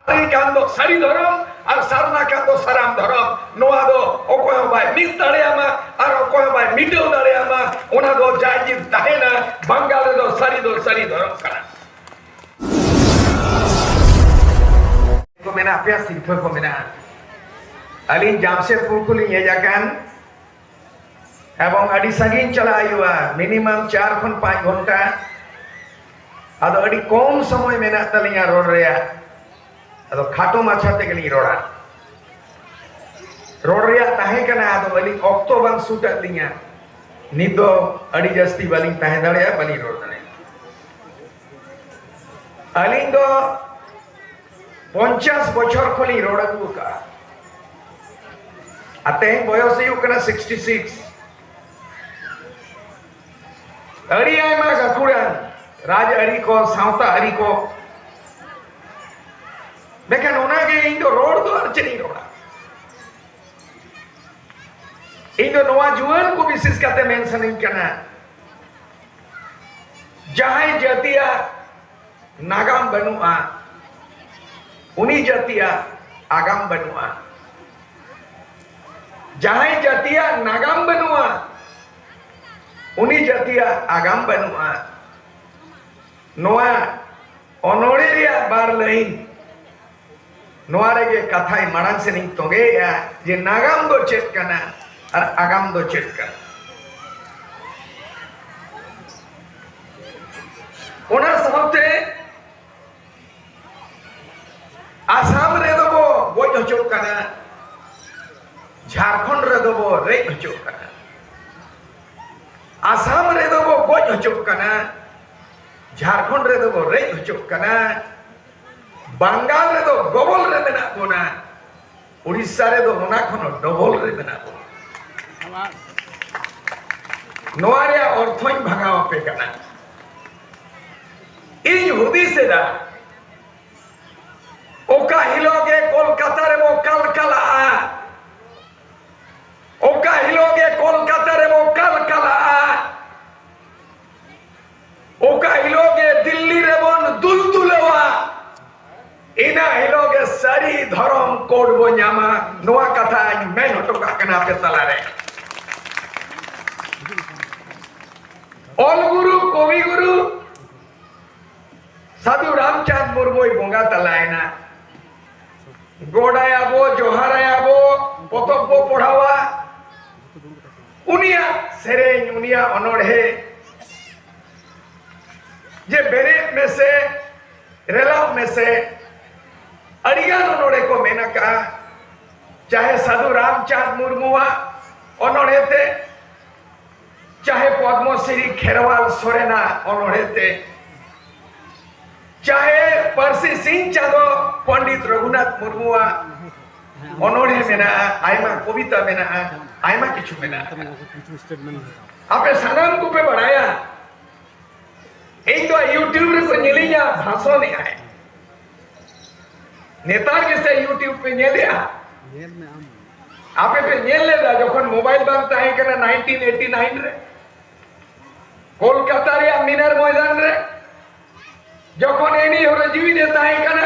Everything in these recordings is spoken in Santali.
ᱥᱟᱹᱨᱤ ᱠᱟᱱ ᱫᱚ ᱥᱟᱹᱨᱤ ᱫᱷᱚᱨᱚᱢ ᱟᱨ ᱥᱟᱨᱱᱟ ᱠᱟᱱ ᱫᱚ ᱥᱟᱨᱟᱢ ᱫᱷᱚᱨᱚᱢ ᱱᱚᱣᱟ ᱫᱚ ᱚᱠᱚᱭ ᱦᱚᱸ ᱵᱟᱭ ᱢᱤᱫ ᱫᱟᱲᱮᱭᱟᱢᱟ ᱟᱨ ᱚᱠᱚᱭ ᱦᱚᱸ ᱵᱟᱭ ᱢᱤᱴᱟᱹᱣ ᱫᱟᱲᱮᱭᱟᱢᱟ ᱚᱱᱟ ᱫᱚ ᱡᱟᱭ ᱡᱤᱵ ᱛᱟᱦᱮᱱᱟ ᱵᱟᱝᱜᱟᱞ ᱨᱮᱫᱚ ᱥᱟᱹᱨᱤ ᱫᱚ ᱥᱟᱹᱨᱤ ᱫᱷᱚᱨᱚᱢ ᱠᱟᱱᱟ ᱠᱚ ᱢᱮᱱᱟᱜ ᱯᱮᱭᱟ ᱥᱤᱨᱯᱷᱟᱹ ᱠᱚ ᱢᱮᱱᱟᱜᱼᱟ ᱟᱹᱞᱤᱧ ᱡᱟᱢᱥᱮᱫᱽᱯᱩᱨ ᱠᱷᱚᱱᱞᱤᱧ ᱦᱮᱡ ᱟᱠᱟᱱ ᱮᱵᱚᱝ ᱟᱹᱰᱤ ᱥᱟᱺᱜᱤᱧ ᱪᱟᱞᱟᱜ ᱦᱩᱭᱩᱜᱼᱟ ᱢᱤᱱᱤᱢᱟᱢ ᱪᱟᱨ ᱠᱷᱚᱱ ᱯᱟᱸᱪ ᱜᱷᱚᱱᱴᱟ ᱟᱫᱚ ᱟᱹᱰᱤ ᱠᱚᱢ ᱥᱚᱢᱚᱭ ᱢᱮᱱᱟᱜ ᱛᱟᱹᱞᱤᱧᱟ ᱨᱚᱲ ᱨᱮᱭᱟᱜ ᱟᱫᱚ ᱠᱷᱟᱴᱚ ᱢᱟᱪᱷᱟ ᱛᱮᱜᱮᱞᱤᱧ ᱨᱚᱲᱟ ᱨᱚᱲ ᱨᱮᱭᱟᱜ ᱛᱟᱦᱮᱸ ᱠᱟᱱᱟ ᱟᱫᱚ ᱟᱹᱞᱤᱧ ᱚᱠᱛᱚ ᱵᱟᱝ ᱥᱩᱴ ᱟᱫ ᱞᱤᱧᱟ ᱱᱤᱛ ᱫᱚ ᱟᱹᱰᱤ ᱡᱟᱹᱥᱛᱤ ᱵᱟᱹᱞᱤᱧ ᱛᱟᱦᱮᱸ ᱫᱟᱲᱮᱭᱟᱜᱼᱟ ᱵᱟᱹᱞᱤᱧ ᱨᱚᱲ ᱫᱟᱲᱮᱭᱟᱜᱼᱟ ᱟᱹᱞᱤᱧ ᱫᱚ ᱯᱚᱧᱪᱟᱥ ᱵᱚᱪᱷᱚᱨ ᱠᱷᱚᱱ ᱞᱤᱧ ᱨᱚᱲ ᱟᱹᱜᱩ ᱟᱠᱟᱫᱼᱟ ᱟᱨ ᱛᱮᱦᱮᱧ ᱵᱚᱭᱚᱥ ᱦᱩᱭᱩᱜ ᱠᱟᱱᱟ ᱥᱤᱠᱥᱴᱤ ᱥᱤᱠᱥ ᱟᱹᱰᱤ ᱟᱭᱢᱟ ᱜᱟᱹᱠᱷᱩᱲᱟᱱ ᱨᱟᱡᱽ ᱟᱹᱨᱤ ᱠᱚ ᱥᱟᱶᱛᱟ ᱟᱹᱨᱤ ᱠᱚ ᱢᱮᱱᱠᱷᱟᱱ ᱚᱱᱟᱜᱮ ᱤᱧ ᱫᱚ ᱨᱚᱲ ᱫᱚ ᱟᱨ ᱪᱮᱫ ᱤᱧ ᱨᱚᱲᱟ ᱤᱧ ᱫᱚ ᱱᱚᱣᱟ ᱡᱩᱣᱟᱹᱱ ᱠᱚ ᱵᱤᱥᱮᱥ ᱠᱟᱛᱮ ᱢᱮᱱ ᱥᱟᱱᱟᱧ ᱠᱟᱱᱟ ᱡᱟᱦᱟᱸᱭ ᱡᱟᱹᱛᱤᱭᱟᱜ ᱱᱟᱜᱟᱢ ᱵᱟᱹᱱᱩᱜᱼᱟ ᱩᱱᱤ ᱡᱟᱹᱛᱤᱭᱟᱜ ᱟᱜᱟᱢ ᱵᱟᱹᱱᱩᱜᱼᱟ ᱡᱟᱦᱟᱸᱭ ᱡᱟᱹᱛᱤᱭᱟᱜ ᱱᱟᱜᱟᱢ ᱵᱟᱹᱱᱩᱜᱼᱟ ᱩᱱᱤ ᱡᱟᱹᱛᱤᱭᱟᱜ ᱟᱜᱟᱢ ᱵᱟᱹᱱᱩᱜᱼᱟ ᱱᱚᱣᱟ ᱚᱱᱚᱲᱦᱮ ᱨᱮᱭᱟᱜ ᱵᱟᱨ ᱞᱟᱹᱭᱤᱱ ᱱᱚᱣᱟ ᱨᱮᱜᱮ ᱠᱟᱛᱷᱟᱭ ᱢᱟᱲᱟᱝ ᱥᱮᱱ ᱤᱧ ᱛᱚᱸᱜᱮᱭᱮᱜᱼᱟ ᱡᱮ ᱱᱟᱜᱟᱢ ᱫᱚ ᱪᱮᱫ ᱠᱟᱱᱟ ᱟᱨ ᱟᱜᱟᱢ ᱫᱚ ᱪᱮᱫ ᱠᱟᱱᱟ ᱚᱱᱟ ᱥᱟᱶᱛᱮ ᱟᱥᱟᱢ ᱨᱮᱫᱚ ᱵᱚ ᱜᱚᱡ ᱦᱚᱪᱚᱜ ᱠᱟᱱᱟ ᱡᱷᱟᱲᱠᱷᱚᱸᱰ ᱨᱮᱫᱚ ᱵᱚ ᱨᱮᱡ ᱦᱚᱪᱚᱜ ᱠᱟᱱᱟ ᱟᱥᱟᱢ ᱨᱮᱫᱚ ᱵᱚ ᱜᱚᱡ ᱦᱚᱪᱚᱜ ᱠᱟᱱᱟ ᱡᱷᱟᱲᱠᱷᱚᱸᱰ ᱨᱮᱫᱚ ᱵᱚ ᱨᱮᱡ ᱦᱚᱪᱚᱜ ᱠᱟᱱᱟ ᱵᱟᱝᱜᱟᱞ ᱨᱮᱫᱚ ᱜᱚᱵᱚᱞ ᱨᱮ ᱢᱮᱱᱟᱜ ᱵᱚᱱᱟ ᱩᱲᱤᱥᱥᱟ ᱨᱮᱫᱚ ᱚᱱᱟ ᱠᱷᱚᱱ ᱰᱚᱵᱚᱞ ᱨᱮ ᱢᱮᱱᱟᱜ ᱵᱚᱱᱟ ᱱᱚᱣᱟ ᱨᱮᱭᱟᱜ ᱚᱨᱛᱷᱚᱧ ᱵᱷᱟᱜᱟᱣ ᱟᱯᱮ ᱠᱟᱱᱟ ᱤᱧ ᱦᱩᱫᱤᱥ ᱮᱫᱟ ᱚᱠᱟ ᱦᱤᱞᱳᱜ ᱜᱮ ᱠᱳᱞᱠᱟᱛᱟ ᱨᱮᱵᱚ ᱠᱟᱞᱠᱟᱞᱟᱜᱼᱟ ᱚᱠᱟ ᱦᱤᱞᱳᱜ ᱜᱮ ᱠᱳᱞᱠᱟᱛᱟ ᱨᱮᱵᱚ ᱠᱟᱞᱠᱟᱞᱟᱜᱼᱟ ᱚᱠᱟ ᱦᱤᱞᱳᱜ ᱜᱮ ᱫᱤᱞᱞᱤ ᱨᱮᱵᱚᱱ ᱫᱩᱞ ᱫᱩᱞᱟᱹᱣᱟ ᱤᱱᱟᱹ ᱦᱤᱞᱳᱜ ᱜᱮ ᱥᱟᱹᱨᱤ ᱫᱷᱚᱨᱚᱢ ᱠᱳᱰ ᱵᱚ ᱧᱟᱢᱟ ᱱᱚᱣᱟ ᱠᱟᱛᱷᱟᱧ ᱢᱮᱱ ᱦᱚᱴᱚ ᱠᱟᱜ ᱠᱟᱱᱟ ᱟᱯᱮ ᱛᱟᱞᱟᱨᱮ ᱚᱞ ᱜᱩᱨᱩ ᱠᱚᱵᱤ ᱜᱩᱨᱩ ᱥᱟᱫᱷᱩ ᱨᱟᱢᱪᱟᱸᱫᱽ ᱢᱩᱨᱢᱩᱭ ᱵᱚᱸᱜᱟ ᱛᱟᱞᱟᱭᱮᱱᱟ ᱜᱚᱰᱟᱭᱟᱵᱚ ᱡᱚᱦᱟᱨᱟᱭᱟᱵᱚ ᱯᱚᱛᱚᱵ ᱵᱚ ᱯᱚᱲᱦᱟᱣᱟ ᱩᱱᱤᱭᱟᱜ ᱥᱮᱨᱮᱧ ᱩᱱᱤᱭᱟᱜ ᱚᱱᱚᱲᱦᱮ ᱡᱮ ᱵᱮᱨᱮᱫ ᱢᱮᱥᱮ ᱨᱮᱞᱟᱣ ᱢᱮᱥᱮ ᱟᱹᱰᱤᱜᱟᱱ ᱚᱱᱚᱲᱦᱮ ᱠᱚ ᱢᱮᱱ ᱟᱠᱟᱜᱼᱟ ᱪᱟᱦᱮ ᱥᱟᱹᱫᱷᱩ ᱨᱟᱢᱪᱟᱸᱫᱽ ᱢᱩᱨᱢᱩᱣᱟᱜ ᱚᱱᱚᱲᱦᱮ ᱛᱮ ᱪᱟᱦᱮ ᱯᱚᱫᱢᱚᱥᱨᱤ ᱠᱷᱮᱨᱣᱟᱞ ᱥᱚᱨᱮᱱᱟᱜ ᱚᱱᱚᱲᱦᱮ ᱛᱮ ᱪᱟᱦᱮ ᱯᱟᱹᱨᱥᱤ ᱥᱤᱧ ᱪᱟᱸᱫᱚ ᱯᱚᱱᱰᱤᱛ ᱨᱚᱜᱷᱩᱱᱟᱛᱷ ᱢᱩᱨᱢᱩᱣᱟᱜ ᱚᱱᱚᱬᱦᱮ ᱢᱮᱱᱟᱜᱼᱟ ᱟᱭᱢᱟ ᱠᱚᱵᱤᱛᱟ ᱢᱮᱱᱟᱜᱼᱟ ᱟᱭᱢᱟ ᱠᱤᱪᱷᱩ ᱢᱮᱱᱟᱜᱼᱟ ᱟᱯᱮ ᱥᱟᱱᱟᱢ ᱠᱚᱯᱮ ᱵᱟᱲᱟᱭᱟ ᱤᱧ ᱫᱚ ᱤᱭᱩᱴᱤᱭᱩᱵᱽ ᱨᱮᱠᱚ ᱧᱮᱞᱤᱧᱟ ᱵᱷᱟᱥᱚᱱᱮᱜᱼᱟᱭ ᱱᱮᱛᱟᱨ ᱜᱮᱥᱮ ᱤᱭᱩᱴᱤᱭᱩᱵᱽ ᱯᱮ ᱧᱮᱞᱮᱜᱼᱟ ᱟᱯᱮ ᱯᱮ ᱧᱮᱞ ᱞᱮᱫᱟ ᱡᱚᱠᱷᱚᱱ ᱢᱳᱵᱟᱭᱤᱞ ᱵᱟᱝ ᱛᱟᱦᱮᱸ ᱠᱟᱱᱟ 1989 ᱨᱮ ᱠᱳᱞᱠᱟᱛᱟ ᱨᱮᱭᱟᱜ ᱢᱤᱱᱟᱨ ᱢᱚᱭᱫᱟᱱ ᱨᱮ ᱡᱚᱠᱷᱚᱱ ᱮᱱᱤ ᱦᱚᱨᱮ ᱡᱤᱣᱤ ᱨᱮ ᱛᱟᱦᱮᱸ ᱠᱟᱱᱟ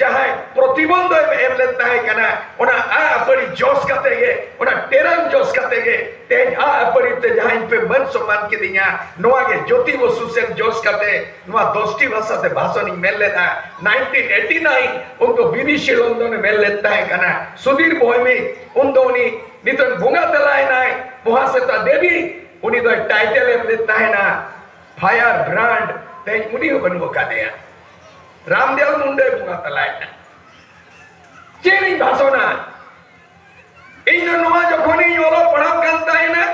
ᱡᱟᱦᱟᱸᱭ ᱯᱨᱚᱛᱤᱵᱚᱱᱫᱷ ᱮᱢ ᱞᱮᱱ ᱛᱟᱦᱮᱸ ᱠᱟᱱᱟ ᱚᱱᱟ ᱟ ᱟᱹᱯᱟᱹᱲᱤ ᱡᱚᱥ ᱠᱟᱛᱮ ᱜᱮ ᱚᱱᱟ ᱴᱮᱨᱟᱝ ᱡᱚᱥ ᱠᱟᱛᱮ ᱜᱮ ᱛᱮᱦᱮᱧ ᱟ ᱟᱹᱯᱟᱹᱲᱤ ᱛᱮ ᱡᱟᱦᱟᱸᱭ ᱯᱮ ᱢᱟᱹᱱ ᱥᱚᱢᱟᱱ ᱠᱤᱫᱤᱧᱟ ᱱᱚᱣᱟ ᱜᱮ ᱡᱳᱛᱤ ᱵᱚᱥᱩ ᱥᱮᱱ ᱡᱚᱥ ᱠᱟᱛᱮ ᱱᱚᱣᱟ ᱫᱚᱥᱴᱤ ᱵᱷᱟᱥᱟ ᱛᱮ ᱵᱷᱟᱥᱚᱱ ᱤᱧ ᱢᱮᱱ ᱞᱮᱫᱟ 1989 ᱩᱱᱠᱩ ᱵᱤᱵᱤ ᱥᱤᱞᱚᱱᱫᱚᱱ ᱢᱮᱱ ᱞᱮᱫ ᱛᱟᱦᱮᱸ ᱠᱟᱱᱟ ᱥᱩᱫᱷᱤᱨ ᱵᱚᱭᱢᱤ ᱩᱱ ᱫᱚ ᱩᱱᱤ ᱱᱤᱛᱚᱜ ᱵᱚᱸᱜᱟ ᱛᱟᱞᱟᱭᱮᱱᱟᱭ ᱢᱚᱦᱟᱥᱮᱛᱟ ᱫᱮᱵᱤ ᱩᱱᱤ ᱫᱚ ᱴᱟᱭᱴᱮᱞ ᱮᱢ ᱞᱮᱫ ᱛᱟᱦᱮᱱᱟ ᱯᱷᱟᱭᱟᱨ ᱵᱨᱟᱱᱰ ᱛᱮᱦᱮᱧ ᱩᱱᱤ ᱦᱚᱸ ᱵᱟᱹᱱᱩᱜ ᱟᱠᱟᱫᱮᱭᱟ ᱨᱟᱢᱫᱮᱣ ᱢᱩᱱᱰᱟᱹᱭ ᱵᱚᱸᱜᱟ ᱛᱟᱞᱟᱭᱮᱱᱟ ᱪᱮᱫ ᱤᱧ ᱵᱷᱟᱥᱚᱱᱟ ᱤᱧ ᱫᱚ ᱱᱚᱣᱟ ᱡᱚᱠᱷᱚᱱᱤᱧ ᱚᱞᱚᱜ ᱯᱟᱲᱦᱟᱜ ᱠᱟᱱ ᱛᱟᱦᱮᱱᱟ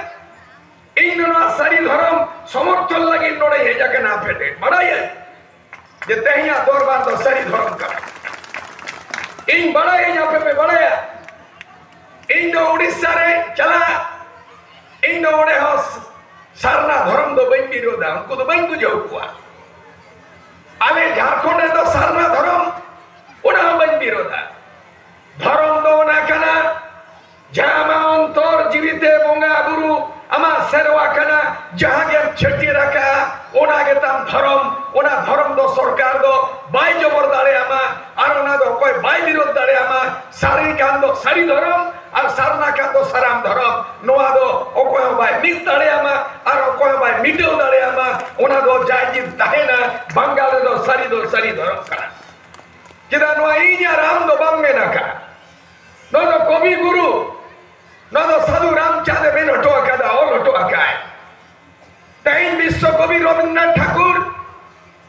ᱤᱧ ᱫᱚ ᱱᱚᱣᱟ ᱥᱟᱹᱨᱤ ᱫᱷᱚᱨᱚᱢ ᱥᱚᱢᱚᱨᱛᱷᱚᱱ ᱞᱟᱹᱜᱤᱫ ᱱᱚᱰᱮ ᱦᱮᱡ ᱟᱠᱟᱱᱟ ᱟᱯᱮ ᱴᱷᱮᱱ ᱵᱟᱲᱟᱭᱟ ᱡᱮ ᱛᱮᱦᱮᱧᱟᱜ ᱫᱚᱨᱵᱟᱨ ᱫᱚ ᱥᱟᱹᱨᱤ ᱫᱷᱚᱨᱚᱢ ᱠᱟᱱᱟ ᱤᱧ ᱵᱟᱲᱟᱭᱟᱹᱧ ᱟᱯᱮ ᱯᱮ ᱵᱟᱲᱟᱭᱟ ᱤᱧ ᱫᱚ ᱩᱲᱤᱥᱥᱟ ᱨᱮ ᱪᱟᱞᱟᱜ ᱤᱧ ᱫᱚ ᱚᱸᱰᱮ ᱦᱚᱸ ᱥᱟᱨᱱᱟ ᱫᱷᱚᱨᱚᱢ ᱫᱚ ᱵᱟᱹᱧ ᱵᱤᱨᱳᱫᱟ ᱩᱱᱠᱩ ᱫᱚ ᱵᱟᱹᱧ ᱵᱩᱡᱷᱟᱹᱣ ᱠᱚᱣᱟ ᱟᱞᱮ ᱡᱷᱟᱲᱠᱷᱚᱸᱰ ᱨᱮᱫᱚ ᱥᱟᱨᱱᱟ ᱫᱷᱚᱨᱚᱢ ᱚᱱᱟ ᱦᱚᱸ ᱵᱟᱹᱧ ᱵᱤᱨᱳᱫᱷᱟ ᱫᱷᱚᱨᱚᱢ ᱫᱚ ᱚᱱᱟ ᱠᱟᱱᱟ ᱡᱟᱦᱟᱸ ᱟᱢᱟᱜ ᱚᱱᱛᱚᱨ ᱡᱤᱣᱤᱛᱮ ᱵᱚᱸᱜᱟ ᱵᱩᱨᱩ ᱟᱢᱟᱜ ᱥᱮᱨᱣᱟ ᱠᱟᱱᱟ ᱡᱟᱦᱟᱸ ᱜᱮᱢ ᱪᱷᱟᱹᱴᱭᱟᱹᱨ ᱟᱠᱟᱜᱼᱟ ᱚᱱᱟ ᱜᱮᱛᱟᱢ ᱫᱷᱚᱨᱚᱢ ᱚᱱᱟ ᱫᱷᱚᱨᱚᱢ ᱫᱚ ᱥᱚᱨᱠᱟᱨ ᱫᱚ ᱵᱟᱭ ᱡᱚᱵᱚᱨ ᱫᱟᱲᱮᱭᱟᱢᱟ ᱟᱨ ᱚᱱᱟ ᱫᱚ ᱚᱠᱚᱭ ᱵᱟᱭ ᱵᱤᱨᱳᱫᱷ ᱫᱟᱲᱮᱭᱟᱢᱟ ᱥᱟᱹᱨᱤ ᱠᱟᱱ ᱫᱚ ᱥᱟᱹᱨᱤ ᱫᱷᱚᱨᱚᱢ ᱟᱨ ᱥᱟᱨᱱᱟ ᱠᱟᱱ ᱫᱚ ᱥᱟᱨᱟᱢ ᱫᱷᱚᱨᱚᱢ ᱱᱚᱣᱟ ᱫᱚ ᱚᱠᱚᱭ ᱦᱚᱸ ᱵᱟᱭ ᱢᱤᱫ ᱫᱟᱲᱮᱭᱟᱢᱟ ᱟᱨ ᱚᱠᱚᱭ ᱦᱚᱸ ᱵᱟᱭ ᱢᱤᱴᱟᱹᱣ ᱫᱟᱲᱮᱭᱟᱢᱟ ᱚᱱᱟ ᱫᱚ ᱡᱟᱭ ᱡᱤᱵᱽ ᱛᱟᱦᱮᱱᱟ ᱵᱟᱝᱜᱟᱞ ᱨᱮᱫᱚ ᱥᱟᱹᱨᱤ ᱫᱚ ᱥᱟᱹᱨᱤ ᱫᱷᱚᱨᱚᱢ ᱠᱟᱱᱟ ᱪᱮᱫᱟᱜ ᱱᱚᱣᱟ ᱤᱧ ᱟᱨ ᱟᱢ ᱫᱚ ᱵᱟᱝ ᱢᱮᱱ ᱟᱠᱟᱫ ᱱᱚᱣᱟ ᱫᱚ ᱠᱚᱵᱤ ᱜᱩᱨᱩ ᱱᱚᱣᱟ ᱫᱚ ᱥᱟᱹᱫᱷᱩ ᱨᱟᱢᱪᱟᱸᱫᱽ ᱮ ᱢᱮᱱ ᱦᱚᱴᱚ ᱟᱠᱟᱫᱟ ᱚᱞ ᱦᱚᱴᱚ ᱟᱠᱟᱫ ᱛᱮᱦᱮᱧ ᱵᱤᱥᱥᱚ ᱠᱚᱵᱤ ᱨᱚᱵᱤᱱᱫᱨᱚᱱᱟᱛᱷ ᱴᱷᱟᱠᱩᱨ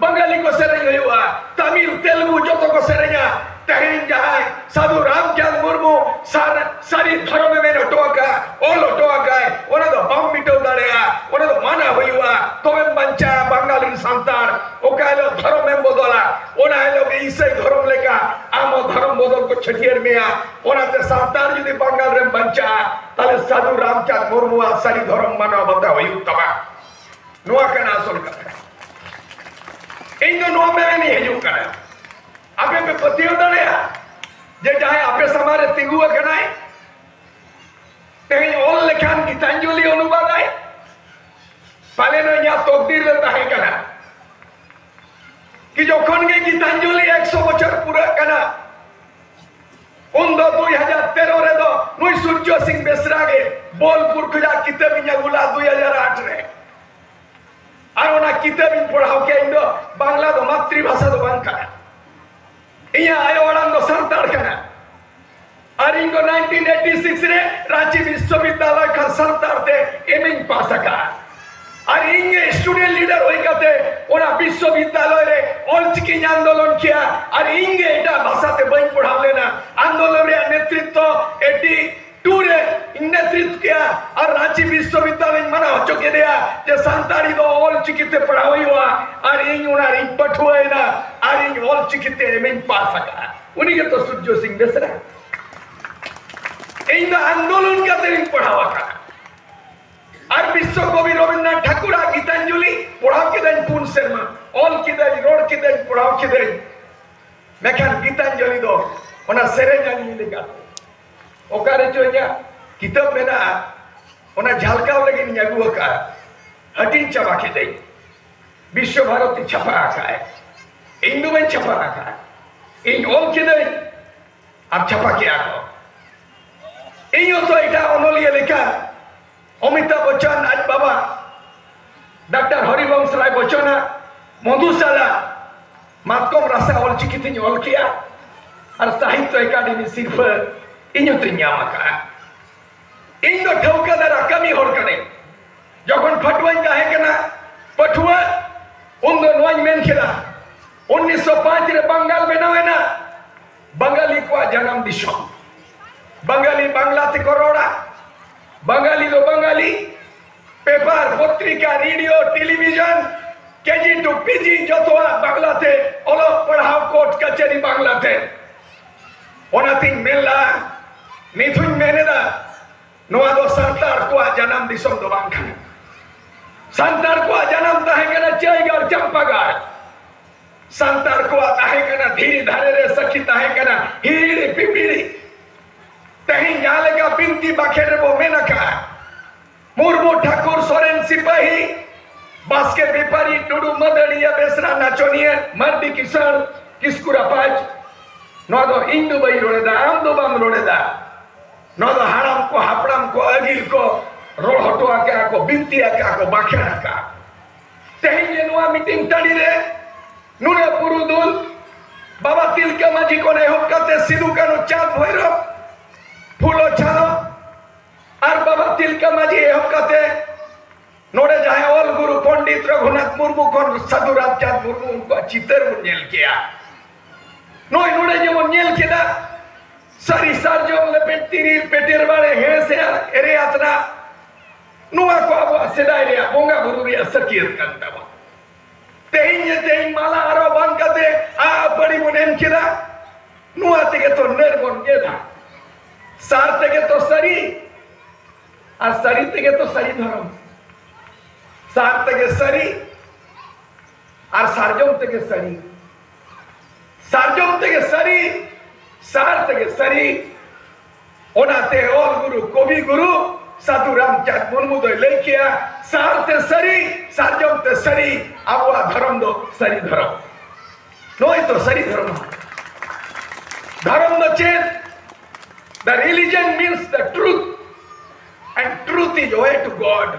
ᱵᱟᱝᱜᱟᱞᱤ ᱠᱚ ᱥᱮᱨᱮᱧ ᱦᱩᱭᱩᱜᱼᱟ ᱛᱟᱢᱤᱞ ᱛᱮᱞᱜᱩ ᱡᱚᱛᱚ ᱠᱚ ᱥᱮᱨᱮᱧᱟ ᱛᱮᱦᱮᱧ ᱡᱟᱦᱟᱸᱭ ᱥᱟᱫᱷᱩ ᱨᱟᱢᱪᱟᱸᱫᱽ ᱢᱩᱨᱢᱩ ᱥᱟᱨ ᱥᱟᱹᱨᱤ ᱫᱷᱚᱨᱚᱢᱮ ᱢᱮᱱ ᱦᱚᱴᱚ ᱟᱠᱟᱫ ᱚᱞ ᱦᱚᱴᱚ ᱟᱠᱟᱫ ᱚᱱᱟ ᱫᱚ ᱵᱟᱢ ᱢᱤᱴᱟᱹᱣ ᱫᱟᱲᱮᱭᱟᱜᱼᱟ ᱚᱱᱟ ᱫᱚ ᱢᱟᱱᱟ ᱦᱩᱭᱩᱜᱼᱟ ᱛᱚᱵᱮᱢ ᱵᱟᱧᱪᱟᱜᱼᱟ ᱵᱟᱝᱜᱟᱞ ᱨᱮᱱ ᱥᱟᱱᱛᱟᱲ ᱚᱠᱟ ᱦᱤᱞᱳᱜ ᱫᱷᱚᱨᱚᱢᱮᱢ ᱵᱚᱫᱚᱞᱟ ᱚᱱᱟ ᱦᱤᱞᱳᱜ ᱜᱮ ᱤᱥᱟᱹᱭ ᱫᱷᱚᱨᱚᱢ ᱞᱮᱠᱟ ᱟᱢ ᱦᱚᱸ ᱫᱷᱚᱨᱚᱢ ᱵᱚᱫᱚᱞ ᱠᱚ ᱪᱷᱟᱹᱴᱭᱟᱹᱨ ᱢᱮᱭᱟ ᱚᱱᱟᱛᱮ ᱥᱟᱱᱛᱟᱲ ᱡᱩᱫᱤ ᱵᱟᱝᱜᱟᱞ ᱨᱮᱢ ᱵᱟᱧᱪᱟᱜᱼᱟ ᱛᱟᱦᱞᱮ ᱥᱟᱫᱷᱩ ᱨᱟᱢᱪᱟᱸᱫᱽ ᱢᱩᱨᱢᱩᱣᱟᱜ ᱥᱟᱹᱨᱤ ᱫᱷᱚᱨᱚᱢ ᱢᱟᱱᱟᱣ ᱵᱟᱛᱟᱣ ᱦᱩᱭᱩᱜ ᱛᱟᱢᱟ ᱱᱚᱣᱟ ᱠᱟᱱᱟ ᱟᱥᱚᱞ ᱠᱟᱛᱷᱟ ᱤᱧ ᱫᱚ ᱱᱚᱣᱟ ᱢᱮᱱ ᱤᱧ ᱦᱤᱡᱩᱜ ᱠᱟᱱᱟ ᱟᱯᱮ ᱯᱮ ᱯᱟᱹᱛᱭᱟᱹᱣ ᱫᱟᱲᱮᱭᱟᱜᱼᱟ ᱡᱮ ᱡᱟᱦᱟᱸᱭ ᱟᱯᱮ ᱥᱟᱢᱟᱝ ᱨᱮ ᱛᱤᱸᱜᱩ ᱟᱠᱟᱱᱟᱭ ᱛᱮᱦᱮᱧ ᱚᱞ ᱞᱮᱠᱷᱟᱱ ᱜᱤᱛᱟᱧᱡᱚᱞᱤ ᱚᱱᱩᱵᱟᱫᱟᱭ ᱯᱟᱞᱮᱱ ᱤᱧᱟᱹᱜ ᱛᱚᱠᱫᱤᱨ ᱨᱮ ᱛᱟᱦᱮᱸ ᱠᱟᱱᱟ ᱠᱤ ᱡᱚᱠᱷᱚᱱ ᱜᱮ ᱜᱤᱛᱟᱧᱡᱚᱞᱤ 100 ᱵᱚᱪᱷᱚᱨ ᱯᱩᱨᱟᱹᱜ ᱠᱟᱱᱟ ᱩᱱᱫᱚ ᱫᱩᱭ ᱦᱟᱡᱟᱨ ᱛᱮᱨᱚ ᱨᱮᱫᱚ ᱱᱩᱭ ᱥᱩᱨᱡᱚ ᱥᱤᱝ ᱵᱮᱥᱨᱟ ᱜᱮ ᱵᱳᱞᱯᱩᱨ ᱠᱷᱚᱡᱟᱜ ᱠᱤᱛᱟᱹᱵ ᱤᱧ ᱟᱹᱜᱩ ᱞᱟᱜᱼᱟ ᱫᱩᱭ ᱦᱟᱡᱟᱨ ᱟᱴ ᱨᱮ ᱟᱨ ᱚᱱᱟ ᱠᱤᱛᱟᱹᱵ ᱤᱧ ᱯᱟᱲᱦᱟᱣ ᱠᱮᱫ ᱤᱧ ᱫᱚ ᱵᱟᱝᱞᱟ ᱫᱚ ᱢᱟᱛᱨᱤ ᱵᱷᱟᱥᱟ ᱫᱚ ᱵᱟᱝ ᱠᱟᱱᱟ ᱤᱧᱟᱹᱜ ᱟᱭᱳ ᱟᱲᱟᱝ ᱫᱚ ᱥᱟᱱᱛᱟᱲ ᱠᱟᱱᱟ ᱟᱨ ᱤᱧ ᱫᱚ 1986 ᱨᱮ ᱨᱟᱸᱪᱤ ᱵᱤᱥᱥᱚᱵᱤᱫᱽᱫᱟᱞᱚᱭ ᱠᱷᱚᱱ ᱥᱟᱱᱛᱟᱲ ᱛᱮ ᱮᱢ ᱤᱧ ᱯᱟᱥ ᱟᱠᱟᱫᱼᱟ ᱟᱨ ᱤᱧ ᱜᱮ ᱥᱴᱩᱰᱮᱱᱴ ᱞᱤᱰᱟᱨ ᱦᱩᱭ ᱠᱟᱛᱮ ᱚᱱᱟ ᱵᱤᱥᱥᱚᱵᱤᱫᱽᱫᱟᱞᱚᱭ ᱨᱮ ᱚᱞᱪᱤᱠᱤᱧ ᱟᱱᱫᱳᱞᱚᱱ ᱠᱮᱭᱟ ᱟᱨ ᱤᱧ ᱜᱮ ᱮᱴᱟᱜ ᱵᱷᱟᱥᱟ ᱛᱮ ᱵᱟᱹᱧ ᱯᱟᱲᱦᱟᱣ ᱞᱮᱱᱟ ᱟᱱᱫᱳᱞᱚᱱ ᱨᱮᱭᱟᱜ ᱱᱮᱛᱨᱤᱛᱛᱚ ᱮᱴᱤ ᱴᱩ ᱨᱮ ᱤᱧ ᱱᱮᱛᱨᱤᱛᱛᱚ ᱠᱮᱭᱟ ᱟᱨ ᱨᱟᱺᱪᱤ ᱵᱤᱥᱥᱚᱵᱤᱫᱽᱫᱟᱞᱚᱭ ᱢᱟᱱᱟ ᱦᱚᱪᱚ ᱠᱮᱫᱮᱭᱟ ᱡᱮ ᱥᱟᱱᱛᱟᱲᱤ ᱫᱚ ᱚᱞᱪᱤᱠᱤ ᱛᱮ ᱯᱟᱲᱦᱟᱣ ᱦᱩᱭᱩᱜᱼᱟ ᱟᱨ ᱤᱧ ᱚᱱᱟ ᱨᱤᱧ ᱯᱟᱹᱴᱷᱩᱣᱟᱹᱭᱮᱱᱟ ᱟᱨ ᱤᱧ ᱚᱞᱪᱤᱠᱤ ᱛᱮ ᱮᱢᱤᱧ ᱯᱟᱥ ᱟᱠᱟᱫᱼᱟ ᱩᱱᱤ ᱜᱮᱛᱚ ᱥᱩᱨᱡᱚ ᱥᱤᱝ ᱵᱮᱥᱨᱟ ᱤᱧ ᱫᱚ ᱟᱱᱫᱳᱞᱚᱱ ᱠᱟᱛᱮ ᱤᱧ ᱯᱟᱲᱦᱟᱣ ᱟᱠᱟᱫᱼᱟ ᱟᱨ ᱵᱤᱥᱥᱚ ᱠᱚᱵᱤ ᱨᱚᱵᱤᱱᱫᱨᱚᱱᱟᱛᱷ ᱴᱷᱟᱠᱩᱨᱟᱜ ᱜᱤᱛᱟᱧᱡᱚᱞᱤ ᱯᱚᱲᱦᱟᱣ ᱠᱮᱫᱟᱹᱧ ᱯᱩᱱ ᱥᱮᱨᱢᱟ ᱚᱞ ᱠᱮᱫᱟᱹᱧ ᱨᱚᱲ ᱠᱮᱫᱟᱹᱧ ᱯᱚᱲᱦᱟᱣ ᱠᱮᱫᱟᱹᱧ ᱢᱮᱱᱠᱷᱟᱱ ᱜᱤᱛᱟᱧᱡᱚᱞᱤ ᱫᱚ ᱚᱱᱟ ᱥᱮᱨᱮᱧ ᱟᱹᱞᱤᱧ ᱞᱮᱠᱟ ᱚᱠᱟᱨᱮ ᱪᱚ ᱤᱧᱟᱹᱜ ᱠᱤᱛᱟᱹᱵ ᱢᱮᱱᱟᱜᱼᱟ ᱚᱱᱟ ᱡᱷᱟᱞᱠᱟᱣ ᱞᱟᱹᱜᱤᱫ ᱤᱧ ᱟᱹᱜᱩ ᱟᱠᱟᱫᱼᱟ ᱦᱟᱹᱴᱤᱧ ᱪᱟᱵᱟ ᱠᱮᱫᱟᱹᱧ ᱵᱤᱥᱥᱚ ᱵᱷᱟᱨᱚᱛᱤ ᱪᱷᱟᱯᱟ ᱟᱠᱟᱫᱼᱟᱭ ᱤᱧ ᱫᱚ ᱵᱟᱹᱧ ᱪᱷᱟᱯᱟ ᱟᱠᱟᱫᱼᱟ ᱤᱧ ᱚᱞ ᱠᱮᱫᱟᱹᱧ ᱟᱨ ᱪᱷᱟᱯᱟ ᱠᱮᱜᱼᱟ ᱠᱚ ᱤᱧ ᱦᱚᱸᱛᱚ ᱮᱴᱟᱜ ᱚᱱᱚᱞᱤᱭᱟᱹ ᱞᱮᱠᱟ ᱚᱢᱤᱛᱟᱵᱷ ᱵᱚᱪᱪᱚᱱ ᱟᱡ ᱵᱟᱵᱟ ᱰᱟᱠᱛᱟᱨ ᱦᱚᱨᱤᱵᱚᱝᱥ ᱨᱟᱭ ᱵᱚᱪᱪᱚᱱᱟᱜ ᱢᱚᱫᱷᱩᱥᱟᱞᱟ ᱢᱟᱛᱠᱚᱢ ᱨᱟᱥᱟ ᱚᱞᱪᱤᱠᱤ ᱛᱤᱧ ᱚᱞ ᱠᱮᱜᱼᱟ ᱟᱨ ᱥᱟᱦᱤᱛᱭᱚ ᱮᱠᱟᱰᱮᱢᱤ ᱥᱤᱨᱯᱷᱟᱹ ᱤᱧ ᱦᱚᱸᱛᱚᱧ ᱧᱟᱢ ᱟᱠᱟᱜᱼᱟ ᱤᱧ ᱫᱚ ᱴᱷᱟᱹᱣᱠᱟᱹ ᱫᱟᱨᱟ ᱠᱟᱹᱢᱤ ᱦᱚᱲ ᱠᱟᱹᱱᱟᱹᱧ ᱡᱚᱠᱷᱚᱱ ᱯᱷᱟᱹᱴᱩᱣᱟᱹᱧ ᱛᱟᱦᱮᱸ ᱠᱟᱱᱟ ᱯᱟᱹᱴᱷᱩᱣᱟᱹ ᱩᱱᱫᱚ ᱱᱚᱣᱟᱧ ᱢᱮᱱ ᱠᱮᱫᱟ 1905 ᱨᱮ ᱵᱟᱝᱜᱟᱞ ᱵᱮᱱᱟᱣ ᱮᱱᱟ ᱵᱟᱝᱜᱟᱞᱤ ᱠᱚᱣᱟᱜ ᱡᱟᱱᱟᱢ ᱫᱤᱥᱚᱢ ᱵᱟᱝᱜᱟᱞᱤ ᱵᱟᱝᱞᱟ ᱛᱮᱠᱚ ᱨᱚᱲᱟ ᱵᱟᱝᱜᱟᱞᱤ ᱫᱚ ᱵᱟᱝᱜᱟᱞᱤ ᱯᱮᱯᱟᱨ ᱯᱚᱛᱨᱤᱠᱟ radio television KG to PG ᱡᱚᱛᱚᱣᱟᱜ ᱵᱟᱝᱞᱟᱛᱮ ᱚᱞᱚᱜ ᱯᱟᱲᱦᱟᱣ ᱠᱳᱨᱴ ᱠᱟᱪᱷᱟᱨᱤ ᱵᱟᱝᱞᱟᱛᱮ ᱚᱱᱟᱛᱤᱧ ᱢᱮᱱ ᱞᱟᱜᱼᱟ ᱱᱤᱛ ᱦᱚᱧ ᱢᱮᱱᱮᱫᱟ ᱱᱚᱣᱟ ᱫᱚ ᱥᱟᱱᱛᱟᱲ ᱠᱚᱣᱟᱜ ᱡᱟᱱᱟᱢ ᱫᱤᱥᱚᱢ ᱫᱚ ᱵᱟᱝ ᱠᱟᱱᱟ ᱥᱟᱱᱛᱟᱲ ᱠᱚᱣᱟᱜ ᱡᱟᱱᱟᱢ ᱛᱟᱦᱮᱸ ᱠᱟᱱᱟ ᱪᱟᱹᱭᱜᱟᱲ ᱪᱟᱢᱯᱟᱜᱟᱲ ᱥᱟᱱᱛᱟᱲ ᱠᱚᱣᱟᱜ ᱛᱟᱦᱮᱸ ᱠᱟᱱᱟ ᱫᱷᱤᱨᱤ ᱫᱷᱟᱨᱮ ᱨᱮ ᱥᱟᱹᱠᱷᱤ ᱛᱟᱦᱮᱸ ᱠᱟᱱᱟ ᱦᱤᱦᱤᱲᱤ ᱯᱤᱯᱤᱲᱤ ᱛᱮᱦᱮᱧ ᱡᱟᱦᱟᱸ ᱞᱮᱠᱟ ᱵᱤᱱᱛᱤ ᱵᱟᱠᱷᱮᱲ ᱨᱮᱵᱚ ᱢᱮᱱ ᱟᱠᱟᱜᱼᱟ ᱢᱩᱨᱢᱩ ᱴᱷᱟᱠᱩᱨ ᱥᱚᱨᱮᱱ ᱥᱤᱯᱟᱹᱦᱤ ᱵᱟᱥᱠᱮ ᱵᱮᱯᱟᱨᱤ ᱴᱩᱰᱩ ᱢᱟᱹᱫᱟᱹᱲᱤᱭᱟᱹ ᱵᱮᱥᱨᱟ ᱱᱟᱪᱚᱱᱤᱭᱟᱹ ᱢᱟᱨᱰᱤ ᱠᱤᱥᱟᱹᱬ ᱠᱤᱥᱠᱩ ᱨᱟᱯᱟᱡᱽ ᱱᱚᱣᱟ ᱫᱚ ᱤᱧ ᱫᱚ ᱵᱟᱹᱧ ᱨᱚᱲᱮᱫᱟ ᱟᱢ ᱫᱚ ᱵᱟᱢ ᱨᱚᱲᱮᱫᱟ ᱱᱚᱣᱟ ᱫᱚ ᱦᱟᱲᱟᱢ ᱠᱚ ᱦᱟᱯᱲᱟᱢ ᱠᱚ ᱟᱹᱜᱤᱞ ᱠᱚ ᱨᱚᱲ ᱦᱚᱴᱚ ᱟᱠᱟᱜᱼᱟ ᱠᱚ ᱵᱤᱱᱛᱤ ᱟᱠᱟᱜᱼᱟ ᱠᱚ ᱵᱟᱠᱷᱮᱬ ᱟᱠᱟᱜᱼᱟ ᱛᱮᱦᱮᱧ ᱡᱮ ᱱᱚᱣᱟ ᱢᱤᱴᱤᱝ ᱴᱟᱺᱰᱤ ᱨᱮ ᱱᱩᱱᱟᱹᱜ ᱯᱩᱨᱩᱫᱩᱞ ᱵᱟᱵᱟ ᱛᱤᱞᱠᱟᱹ ᱢᱟᱹᱡᱷᱤ ᱠᱷᱚᱱ ᱮᱦᱚᱵ ᱠᱟᱛᱮ ᱥᱤᱫᱩ ᱠᱟᱹᱱᱩ ᱪᱟᱸᱫᱽ ᱵᱷᱳᱭᱨᱚᱵ ᱯᱷᱩᱞᱚ ᱪᱷᱟᱞᱚ ᱟᱨ ᱵᱟᱵᱟ ᱛᱤᱞᱠᱟᱹ ᱢᱟᱹᱡᱷᱤ ᱮᱦᱚᱵ ᱠᱟᱛᱮ ᱱᱚᱰᱮ ᱡᱟᱦᱟᱸᱭ ᱚᱞ ᱜᱩᱨᱩ ᱯᱚᱱᱰᱤᱛ ᱨᱚᱜᱷᱩᱱᱟᱛᱷ ᱢᱩᱨᱢᱩ ᱠᱷᱚᱱ ᱥᱟᱹᱫᱷᱩ ᱨᱟᱢᱪᱟᱸᱫᱽ ᱢᱩᱨᱢᱩ ᱩᱱᱠᱩᱣᱟᱜ ᱪᱤᱛᱟᱹᱨ ᱵᱚᱱ ᱧᱮᱞ ᱠᱮᱜᱼᱟ ᱱᱚᱜᱼᱚᱭ ᱱᱚᱰᱮ ᱡᱮᱢᱚᱱ ᱧᱮᱞ ᱠᱮᱫᱟ ᱥᱟᱹᱨᱤ ᱥᱟᱨᱡᱚᱢ ᱞᱮᱯᱮᱡ ᱛᱤᱨᱤᱞ ᱯᱮᱴᱮᱨ ᱵᱟᱲᱮ ᱦᱮᱸ ᱥᱮ ᱮᱨᱮ ᱟᱛᱨᱟ ᱱᱚᱣᱟ ᱠᱚ ᱟᱵᱚᱣᱟᱜ ᱥᱮᱫᱟᱭ ᱨᱮᱭᱟᱜ ᱵᱚᱸᱜᱟ ᱵᱩᱨᱩ ᱨᱮᱭᱟᱜ ᱥᱟᱹᱠᱤᱭᱟᱹᱛ ᱠᱟᱱ ᱛᱟᱵᱚᱱ ᱛᱮᱦᱮᱧ ᱡᱮ ᱛᱮᱦᱮᱧ ᱢᱟᱞᱟ ᱟᱨᱚ ᱵᱟᱝ ᱠᱟᱛᱮ ᱟᱯᱟᱲᱤ ᱵᱚᱱ ᱮᱢ ᱠᱮᱫᱟ ᱱᱚᱣᱟ ᱛᱮᱜᱮ ᱛᱚ ᱱᱟᱹᱨ ᱵᱚᱱ ᱜᱮᱫᱟ ᱥᱟᱨ ᱛᱮᱜᱮ ᱛᱚ ᱥᱟᱹᱨᱤ ᱟᱨ ᱥᱟᱹᱨᱤ ᱛᱮᱜᱮ ᱛᱚ ᱥᱟᱹᱨᱤ ᱫᱷᱚᱨᱚᱢ ᱥᱟᱨ ᱛᱮᱜᱮ ᱥᱟᱹᱨᱤ ᱟᱨ ᱥᱟᱨᱡᱚᱢ ᱛᱮᱜᱮ ᱥᱟᱹᱨᱤ ᱥᱟᱨᱡᱚᱢ ᱛᱮᱜᱮ ᱥᱟᱹᱨᱤ ᱥᱟᱨ ᱛᱮᱜᱮ ᱥᱟᱹᱨᱤ ᱚᱱᱟᱛᱮ ᱚᱞ ᱜᱩᱨᱩ ᱠᱚᱵᱤ ᱜᱩᱨᱩ ᱥᱟᱹᱫᱷᱩ ᱨᱟᱢᱪᱟᱸᱫᱽ ᱢᱩᱨᱢᱩ ᱫᱚᱭ ᱞᱟᱹᱭ ᱠᱮᱜᱼᱟ ᱥᱟᱨ ᱛᱮ ᱥᱟᱹᱨᱤ ᱥᱟᱨᱡᱚᱢ ᱛᱮ ᱥᱟᱹᱨᱤ ᱟᱵᱚᱣᱟᱜ ᱫᱷᱚᱨᱚᱢ ᱫᱚ ᱥᱟᱹᱨᱤ ᱫᱷᱚᱨᱚᱢ ᱱᱚᱜᱼᱚᱭ ᱛᱚ ᱥᱟᱹᱨᱤ ᱫᱷᱚᱨᱚᱢ ᱫᱷᱚᱨᱚᱢ ᱫᱚ ᱪᱮᱫ The religion means the truth, and truth is way to God.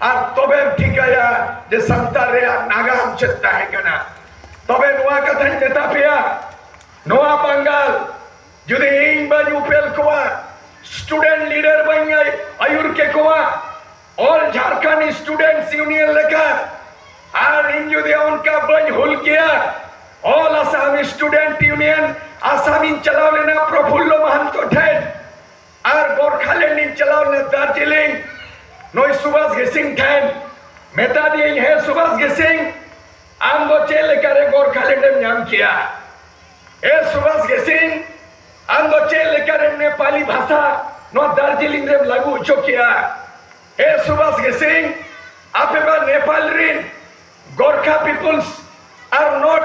ᱟᱨ ᱛᱚᱵᱮᱢ ᱴᱷᱤᱠᱟᱹᱭᱟ ᱡᱮ ᱥᱟᱱᱛᱟᱲ ᱨᱮᱭᱟᱜ ᱱᱟᱜᱟᱢ ᱪᱮᱫ ᱛᱟᱦᱮᱸ ᱠᱟᱱᱟ ᱛᱚᱵᱮ ᱱᱚᱣᱟ ᱠᱟᱛᱷᱟᱧ ᱢᱮᱛᱟ ᱯᱮᱭᱟ ᱱᱚᱣᱟ ᱵᱟᱝᱜᱟᱞ ᱡᱩᱫᱤ ᱤᱧ ᱵᱟᱹᱧ ᱩᱯᱮᱞ ᱠᱚᱣᱟ ᱥᱴᱩᱰᱮᱱᱴ ᱞᱤᱰᱟᱨ ᱵᱟᱹᱧ ᱟᱹᱭᱩᱨ ᱠᱮ ᱠᱚᱣᱟ ᱚᱞ ᱡᱷᱟᱨᱠᱷᱚᱸᱰ ᱥᱴᱩᱰᱮᱱᱴᱥ ᱭᱩᱱᱤᱭᱚᱱ ᱞᱮᱠᱟ ᱟᱨ ᱤᱧ ᱡᱩᱫᱤ ᱚᱱᱠᱟ ᱵᱟᱹᱧ ᱦᱩᱞ ᱠᱮᱭᱟ ᱚᱞ ᱟᱥᱟᱢ ᱥᱴᱩᱰᱮᱱᱴ ᱭᱩᱱᱤᱭᱚᱱ ᱟᱥᱟᱢᱤᱧ ᱪᱟᱞᱟᱣ ᱞᱮᱱᱟ ᱯᱨᱚᱯᱷᱩᱞᱞᱚ ᱢᱟᱦᱟᱱᱛᱚ ᱴᱷᱮᱱ ᱟᱨ ᱜᱳᱨᱠᱷᱟᱞᱮᱱᱰ ᱤᱧ ᱪᱟᱞᱟᱣ ᱞᱮᱱᱟ ᱫᱟᱨᱡᱤᱞᱤᱝ ᱱᱩᱭ ᱥᱩᱵᱷᱟᱥ ᱜᱮᱥᱤᱝ ᱴᱷᱮᱱ ᱢᱮᱛᱟ ᱫᱤᱭᱟᱹᱧ ᱦᱮᱸ ᱥᱩᱵᱷᱟᱥ ᱜᱮᱥᱤᱝ ᱟᱢ ᱫᱚ ᱪᱮᱫ ᱞᱮᱠᱟᱨᱮ ᱜᱳᱨᱠᱷᱟᱞᱮᱱᱰ ᱮᱢ ᱧᱟᱢ ᱠᱮᱜᱼᱟ ᱮ ᱥᱩᱵᱷᱟᱥ ᱜᱮᱥᱤᱝ ᱟᱢ ᱫᱚ ᱪᱮᱫ ᱞᱮᱠᱟᱨᱮ ᱱᱮᱯᱟᱞᱤ ᱵᱷᱟᱥᱟ ᱱᱚᱣᱟ ᱫᱟᱨᱡᱤᱞᱤᱝ ᱨᱮᱢ ᱞᱟᱹᱜᱩ ᱦᱚᱪᱚ ᱠᱮᱜᱼᱟ ᱮ ᱥᱩᱵᱷᱟᱥ ᱜᱮᱥᱤᱝ ᱟᱯᱮ ᱢᱟ ᱱᱮᱯᱟᱞ ᱨᱤᱱ ᱜᱳᱨᱠᱷᱟ ᱯᱤᱯᱩᱞᱥ ᱟᱨ ᱱᱚᱴ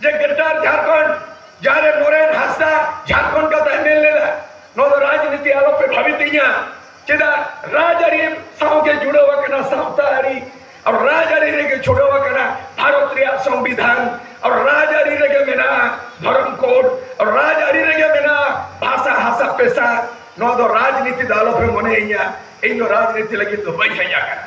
ᱡᱮ ᱜᱨᱮᱴᱟᱨ ᱡᱷᱟᱲᱠᱷᱚᱸᱰ ᱡᱟᱦᱟᱸᱨᱮ ᱱᱚᱨᱮᱱ ᱦᱟᱸᱥᱫᱟ ᱡᱷᱟᱲᱠᱷᱚᱸᱰ ᱠᱟᱛᱷᱟ ᱮᱢᱮᱞ ᱞᱮᱫᱟ ᱱᱚᱣᱟ ᱫᱚ ᱨᱟᱡᱽᱱᱤᱛᱤ ᱟᱞᱚᱯᱮ ᱵᱷᱟᱵᱤᱛᱤᱧᱟ ᱪᱮᱫᱟᱜ ᱨᱟᱡᱽᱟᱹᱨᱤ ᱥᱟᱶᱜᱮ ᱡᱩᱲᱟᱹᱣ ᱟᱠᱟᱱᱟ ᱥᱟᱶᱛᱟ ᱟᱹᱨᱤ ᱟᱨ ᱨᱟᱡᱽᱟᱹᱨᱤ ᱨᱮᱜᱮ ᱪᱷᱩᱰᱟᱹᱣ ᱟᱠᱟᱱᱟ ᱵᱷᱟᱨᱚᱛ ᱨᱮᱭᱟᱜ ᱥᱚᱝᱵᱤᱫᱷᱟᱱ ᱟᱨ ᱨᱟᱡᱽᱟᱹᱨᱤ ᱨᱮᱜᱮ ᱢᱮᱱᱟᱜᱼᱟ ᱫᱷᱚᱨᱚᱢ ᱠᱳᱰ ᱟᱨ ᱨᱟᱡᱽᱟᱹᱨᱤ ᱨᱮᱜᱮ ᱢᱮᱱᱟᱜᱼᱟ ᱵᱷᱟᱥᱟ ᱦᱟᱥᱟ ᱯᱮᱥᱟ ᱱᱚᱣᱟ ᱫᱚ ᱨᱟᱡᱽᱱᱤᱛᱤ ᱫᱚ ᱟᱞᱚᱯᱮ ᱢᱚᱱᱮᱭᱤᱧᱟ ᱤᱧ ᱫᱚ ᱨᱟᱡᱽᱱᱤᱛᱤ ᱞᱟᱹᱜᱤᱫ ᱫᱚ ᱵᱟᱹᱧ ᱦᱮᱡ ᱟᱠᱟᱱᱟ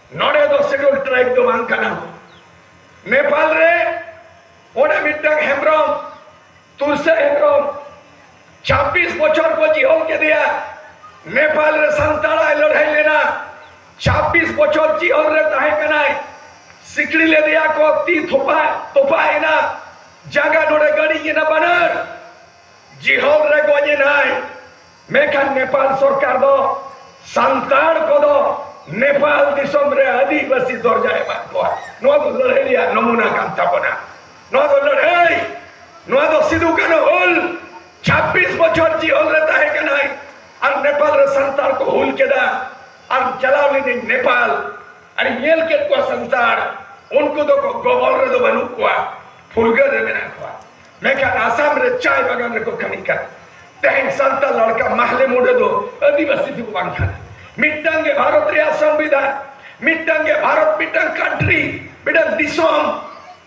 ᱱᱚᱰᱮ ᱫᱚ ᱥᱮᱰᱩᱞ ᱴᱨᱟᱭᱤᱵ ᱫᱚ ᱵᱟᱝ ᱠᱟᱱᱟ ᱱᱮᱯᱟᱞ ᱨᱮ ᱚᱸᱰᱮ ᱢᱤᱫᱴᱟᱝ ᱦᱮᱢᱵᱨᱚᱢ ᱛᱩᱨᱥᱟ ᱦᱮᱢᱵᱨᱚᱢ ᱪᱷᱟᱵᱵᱤᱥ ᱵᱚᱪᱷᱚᱨ ᱠᱚ ᱡᱤᱦᱚᱞ ᱠᱮᱫᱮᱭᱟ ᱱᱮᱯᱟᱞ ᱨᱮ ᱥᱟᱱᱛᱟᱲᱟᱭ ᱞᱟᱹᱲᱦᱟᱹᱭ ᱞᱮᱱᱟ ᱪᱷᱟᱵᱵᱤᱥ ᱵᱚᱪᱷᱚᱨ ᱡᱤᱦᱚᱞ ᱨᱮ ᱛᱟᱦᱮᱸ ᱠᱟᱱᱟᱭ ᱥᱤᱠᱲᱤ ᱞᱮᱫᱮᱭᱟ ᱠᱚ ᱛᱤ ᱛᱷᱚᱯᱟ ᱛᱚᱯᱟᱭᱮᱱᱟ ᱡᱟᱸᱜᱟ ᱱᱚᱰᱮ ᱜᱟᱹᱲᱤᱧ ᱮᱱᱟ ᱵᱟᱱᱟᱨ ᱡᱤᱦᱚᱞ ᱨᱮ ᱜᱚᱡ ᱮᱱᱟᱭ ᱢᱮᱱᱠᱷᱟᱱ ᱱᱮᱯᱟᱞ ᱥᱚᱨᱠᱟᱨ ᱫᱚ ᱥᱟᱱᱛᱟᱲ ᱠᱚᱫᱚ ᱱᱮᱯᱟᱞ ᱫᱤᱥᱚᱢ ᱨᱮ ᱟᱹᱫᱤᱵᱟᱹᱥᱤ ᱫᱚᱨᱡᱟ ᱮᱢᱟᱫ ᱠᱚᱣᱟ ᱱᱚᱣᱟ ᱫᱚ ᱞᱟᱹᱲᱦᱟᱹᱭ ᱨᱮᱭᱟᱜ ᱱᱚᱢᱩᱱᱟ ᱠᱟᱱ ᱛᱟᱵᱚᱱᱟ ᱱᱚᱣᱟ ᱫᱚ ᱞᱟᱹᱲᱦᱟᱹᱭ ᱱᱚᱣᱟ ᱫᱚ ᱥᱤᱫᱩ ᱠᱟᱹᱱᱦᱩ ᱦᱩᱞ 26 ᱵᱚᱪᱷᱚᱨ ᱡᱤᱦᱚᱞ ᱨᱮ ᱛᱟᱦᱮᱸ ᱠᱟᱱᱟᱭ ᱟᱨ ᱱᱮᱯᱟᱞ ᱨᱮ ᱥᱟᱱᱛᱟᱲ ᱠᱚ ᱦᱩᱞ ᱠᱮᱫᱟ ᱟᱨ ᱪᱟᱞᱟᱣ ᱞᱤᱱᱟᱹᱧ ᱱᱮᱯᱟᱞ ᱟᱨ ᱧᱮᱞ ᱠᱮᱫ ᱠᱚᱣᱟ ᱥᱟᱱᱛᱟᱲ ᱩᱱᱠᱩ ᱫᱚ ᱜᱚᱵᱚᱞ ᱨᱮᱫᱚ ᱵᱟᱹᱱᱩᱜ ᱠᱚᱣᱟ ᱯᱷᱩᱨᱜᱟᱹᱞ ᱨᱮ ᱢᱮᱱᱟᱜ ᱠᱚᱣᱟ ᱢᱮᱱᱠᱷᱟᱱ ᱟᱥᱟᱢ ᱨᱮ ᱪᱟᱭ ᱵᱟᱜᱟᱱ ᱨᱮᱠᱚ ᱠᱟᱹᱢᱤ ᱠᱟᱱᱟ ᱛᱮᱦᱮᱧ ᱥᱟᱱᱛᱟᱲ ᱞᱟᱲᱠᱟ ᱢᱟᱦᱞᱮ ᱢᱩᱰᱟᱹ ᱫᱚ ᱟᱹᱫᱤᱵᱟᱹᱥᱤ ᱫᱚ ᱵᱟᱝ ᱠᱟᱱᱟ ᱢᱤᱫᱴᱟᱝ ᱜᱮ ᱵᱷᱟᱨᱚᱛ ᱨᱮᱭᱟᱜ ᱥᱚᱝᱵᱤᱫᱷᱟᱱ ᱢᱤᱫᱴᱟᱝ ᱜᱮ ᱵᱷᱟᱨᱚᱛ ᱢᱤᱫᱴᱟᱝ ᱠᱟᱱᱴᱨᱤ ᱢᱤᱫᱴᱟᱝ ᱫᱤᱥᱚᱢ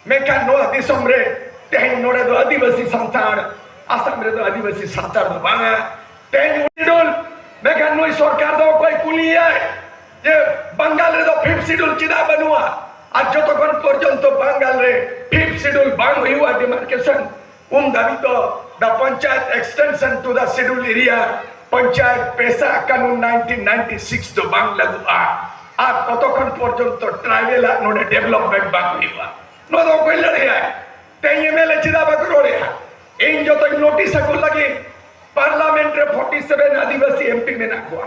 ᱢᱮᱱᱠᱷᱟᱱ ᱱᱚᱣᱟ ᱫᱤᱥᱚᱢ ᱨᱮ ᱛᱮᱦᱮᱧ ᱱᱚᱰᱮ ᱫᱚ ᱟᱹᱫᱤᱵᱟᱹᱥᱤ ᱥᱟᱱᱛᱟᱲ ᱟᱥᱟᱢ ᱨᱮᱫᱚ ᱟᱹᱫᱤᱵᱟᱹᱥᱤ ᱥᱟᱱᱛᱟᱲ ᱫᱚ ᱵᱟᱝᱟ ᱛᱮᱦᱮᱧ ᱩᱱᱤ ᱫᱚ ᱢᱮᱱᱠᱷᱟᱱ ᱱᱩᱭ ᱥᱚᱨᱠᱟᱨ ᱫᱚ ᱚᱠᱚᱭ ᱠᱩᱞᱤᱭᱟᱭ ᱡᱮ ᱵᱟᱝᱜᱟᱞ ᱨᱮᱫᱚ ᱯᱷᱤᱯ ᱥᱤᱰᱩᱞ ᱪᱮᱫᱟᱜ ᱵᱟᱹᱱᱩᱜᱼᱟ ᱟᱨ ᱡᱚᱛᱚ ᱠᱷᱚᱱ ᱯᱚᱨᱡᱚᱱᱛᱚ ᱵᱟᱝᱜᱟᱞ ᱨᱮ ᱯᱷᱤᱯ ᱥᱤᱰᱩᱞ ᱵᱟᱝ ᱦᱩᱭᱩᱜᱼᱟ ᱰᱤᱢᱟᱨᱠᱮᱥᱚᱱ ᱩᱱ ᱫᱷᱟᱹᱵᱤᱡ ᱫᱚ the panchayat extension to the scheduled area panchayat PESA ᱠᱟᱹᱱᱩᱱ 1996 ᱫᱚ ᱵᱟᱝ ᱞᱟᱹᱜᱩᱜᱼᱟ ᱟᱨ ᱛᱚᱛᱚ ᱠᱷᱚᱱ ᱯᱚᱨᱡᱚᱱᱛᱚ ᱴᱨᱟᱭᱵᱮᱞ ᱟᱜ ᱱᱚᱰᱮ ᱰᱮᱵᱷᱞᱚᱯᱢᱮᱱᱴ ᱵᱟᱝ ᱦᱩᱭᱩᱜᱼᱟ ᱱᱚᱣᱟ ᱫᱚ ᱚᱠᱚᱭ ᱞᱟᱹᱲᱦᱟᱹᱭᱟ ᱛᱮᱦᱮᱧ ᱮᱢᱮᱞᱮ ᱪᱮᱫᱟᱜ ᱵᱟᱠᱚ ᱨᱚᱲᱮᱜᱼᱟ ᱤᱧ ᱡᱚᱛᱚᱧ ᱱᱳᱴᱤᱥ ᱟᱠᱚ ᱞᱟᱹᱜᱤᱫ ᱯᱟᱨᱞᱟᱢᱮᱱᱴ ᱨᱮ 47 ᱟᱹᱫᱤᱵᱟᱹᱥᱤ ᱮᱢᱯᱤ ᱢᱮᱱᱟᱜ ᱠᱚᱣᱟ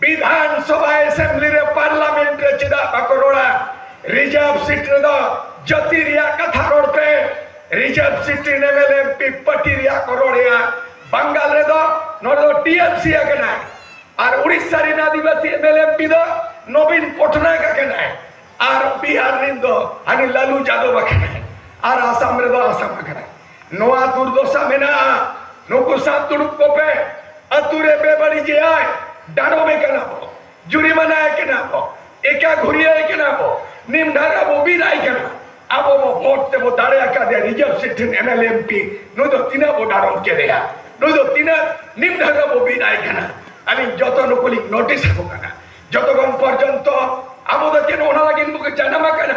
ᱵᱤᱫᱷᱟᱱᱥᱚᱵᱷᱟ ᱮᱥᱮᱢᱵᱞᱤ ᱨᱮ ᱯᱟᱨᱞᱟᱢᱮᱱᱴ ᱨᱮ ᱪᱮᱫᱟᱜ ᱵᱟᱠᱚ ᱨᱚᱲᱟ ᱨᱤᱡᱟᱨᱵᱷ ᱥᱤᱴ ᱨᱮᱫᱚ ᱡᱟᱹᱛᱤ ᱨᱮᱭᱟᱜ ᱠᱟᱛᱷᱟ ᱨᱚᱲ ᱯᱮ ᱨᱤᱡᱟᱨᱵᱷ ᱥᱤᱴ ᱨᱮᱱ M L M P party ᱨᱮᱭᱟᱜ ᱠᱚ ᱨᱚᱲᱮᱜᱼᱟ ᱵᱟᱝᱜᱟᱞ ᱨᱮᱫᱚ ᱱᱚᱰᱮ ᱫᱚ ᱴᱤ ᱮᱢ ᱥᱤ ᱟᱠᱟᱱᱟᱭ ᱟᱨ ᱩᱲᱤᱥᱥᱟ ᱨᱮᱱ adivasi M L M P ᱫᱚ ᱱᱚᱵᱤᱱ ᱯᱚᱴᱱᱟᱭᱮᱠ ᱟᱠᱟᱱᱟᱭ ᱟᱨ ᱵᱤᱦᱟᱨ ᱨᱮᱱ ᱫᱚ ᱦᱟᱹᱱᱤ ᱞᱟᱞᱩ ᱡᱟᱫᱚᱵ ᱟᱠᱟᱱᱟᱭ ᱟᱨ ᱟᱥᱟᱢ ᱨᱮᱫᱚ ᱟᱥᱟᱢ ᱟᱠᱟᱱᱟᱭ ᱱᱚᱣᱟ ᱫᱩᱨᱫᱚᱥᱟ ᱢᱮᱱᱟᱜᱼᱟ ᱱᱩᱠᱩ ᱥᱟᱶ ᱫᱩᱲᱩᱵ ᱠᱚᱯᱮ ᱟᱛᱩ ᱨᱮ ᱵᱮᱵᱟᱹᱲᱤᱡᱮᱭᱟᱭ ᱰᱟᱸᱰᱚᱢᱮ ᱠᱟᱱᱟ ᱵᱚ ᱡᱩᱨᱤᱢᱟᱱᱟᱭ ᱠᱟᱱᱟ ᱵᱚ ᱮᱠᱟ ᱜᱷᱩᱨᱤᱭᱟᱭ ᱠᱟᱱᱟ ᱵᱚ ᱱᱤᱢ ᱰᱷᱟᱨᱟ ᱵᱚ ᱵᱤᱫᱟᱭ ᱠᱟᱱᱟ ᱟᱵᱚ ᱵᱚ ᱵᱷᱳᱴ ᱛᱮᱵᱚ ᱫᱟᱲᱮ ᱟᱠᱟᱫᱮ ᱨᱤᱡᱟᱨᱵᱷ ᱥᱤᱴ ᱴᱷᱮᱱ ᱮᱢ ᱮᱞ ᱮᱢ ᱯᱤ ᱱᱩᱭ ᱫᱚ ᱛᱤᱱᱟᱹᱜ ᱵᱚ ᱰᱟᱸᱰᱚᱢ ᱠᱮᱫᱮᱭᱟ ᱱᱩᱭ ᱫᱚ ᱛᱤᱱᱟᱹᱜ ᱱᱤᱢ ᱰᱷᱟᱨᱟ ᱵᱚ ᱵᱤᱫᱟᱭ ᱠᱟᱱᱟ ᱟᱹᱞᱤᱧ ᱡᱚᱛᱚ ᱱᱩᱠᱩ ᱞᱤᱧ ᱱᱳᱴᱤᱥ ᱟᱠᱚ ᱠᱟᱱᱟ ᱡᱚᱛᱚᱠᱷᱚᱱ ᱯᱚᱨᱡᱚᱱᱛᱚ ᱟᱵᱚ ᱫᱚ ᱪᱮᱫ ᱚᱱᱟ ᱞᱟᱹᱜᱤᱫ ᱵᱚ ᱡᱟᱱᱟᱢ ᱟᱠᱟᱱᱟ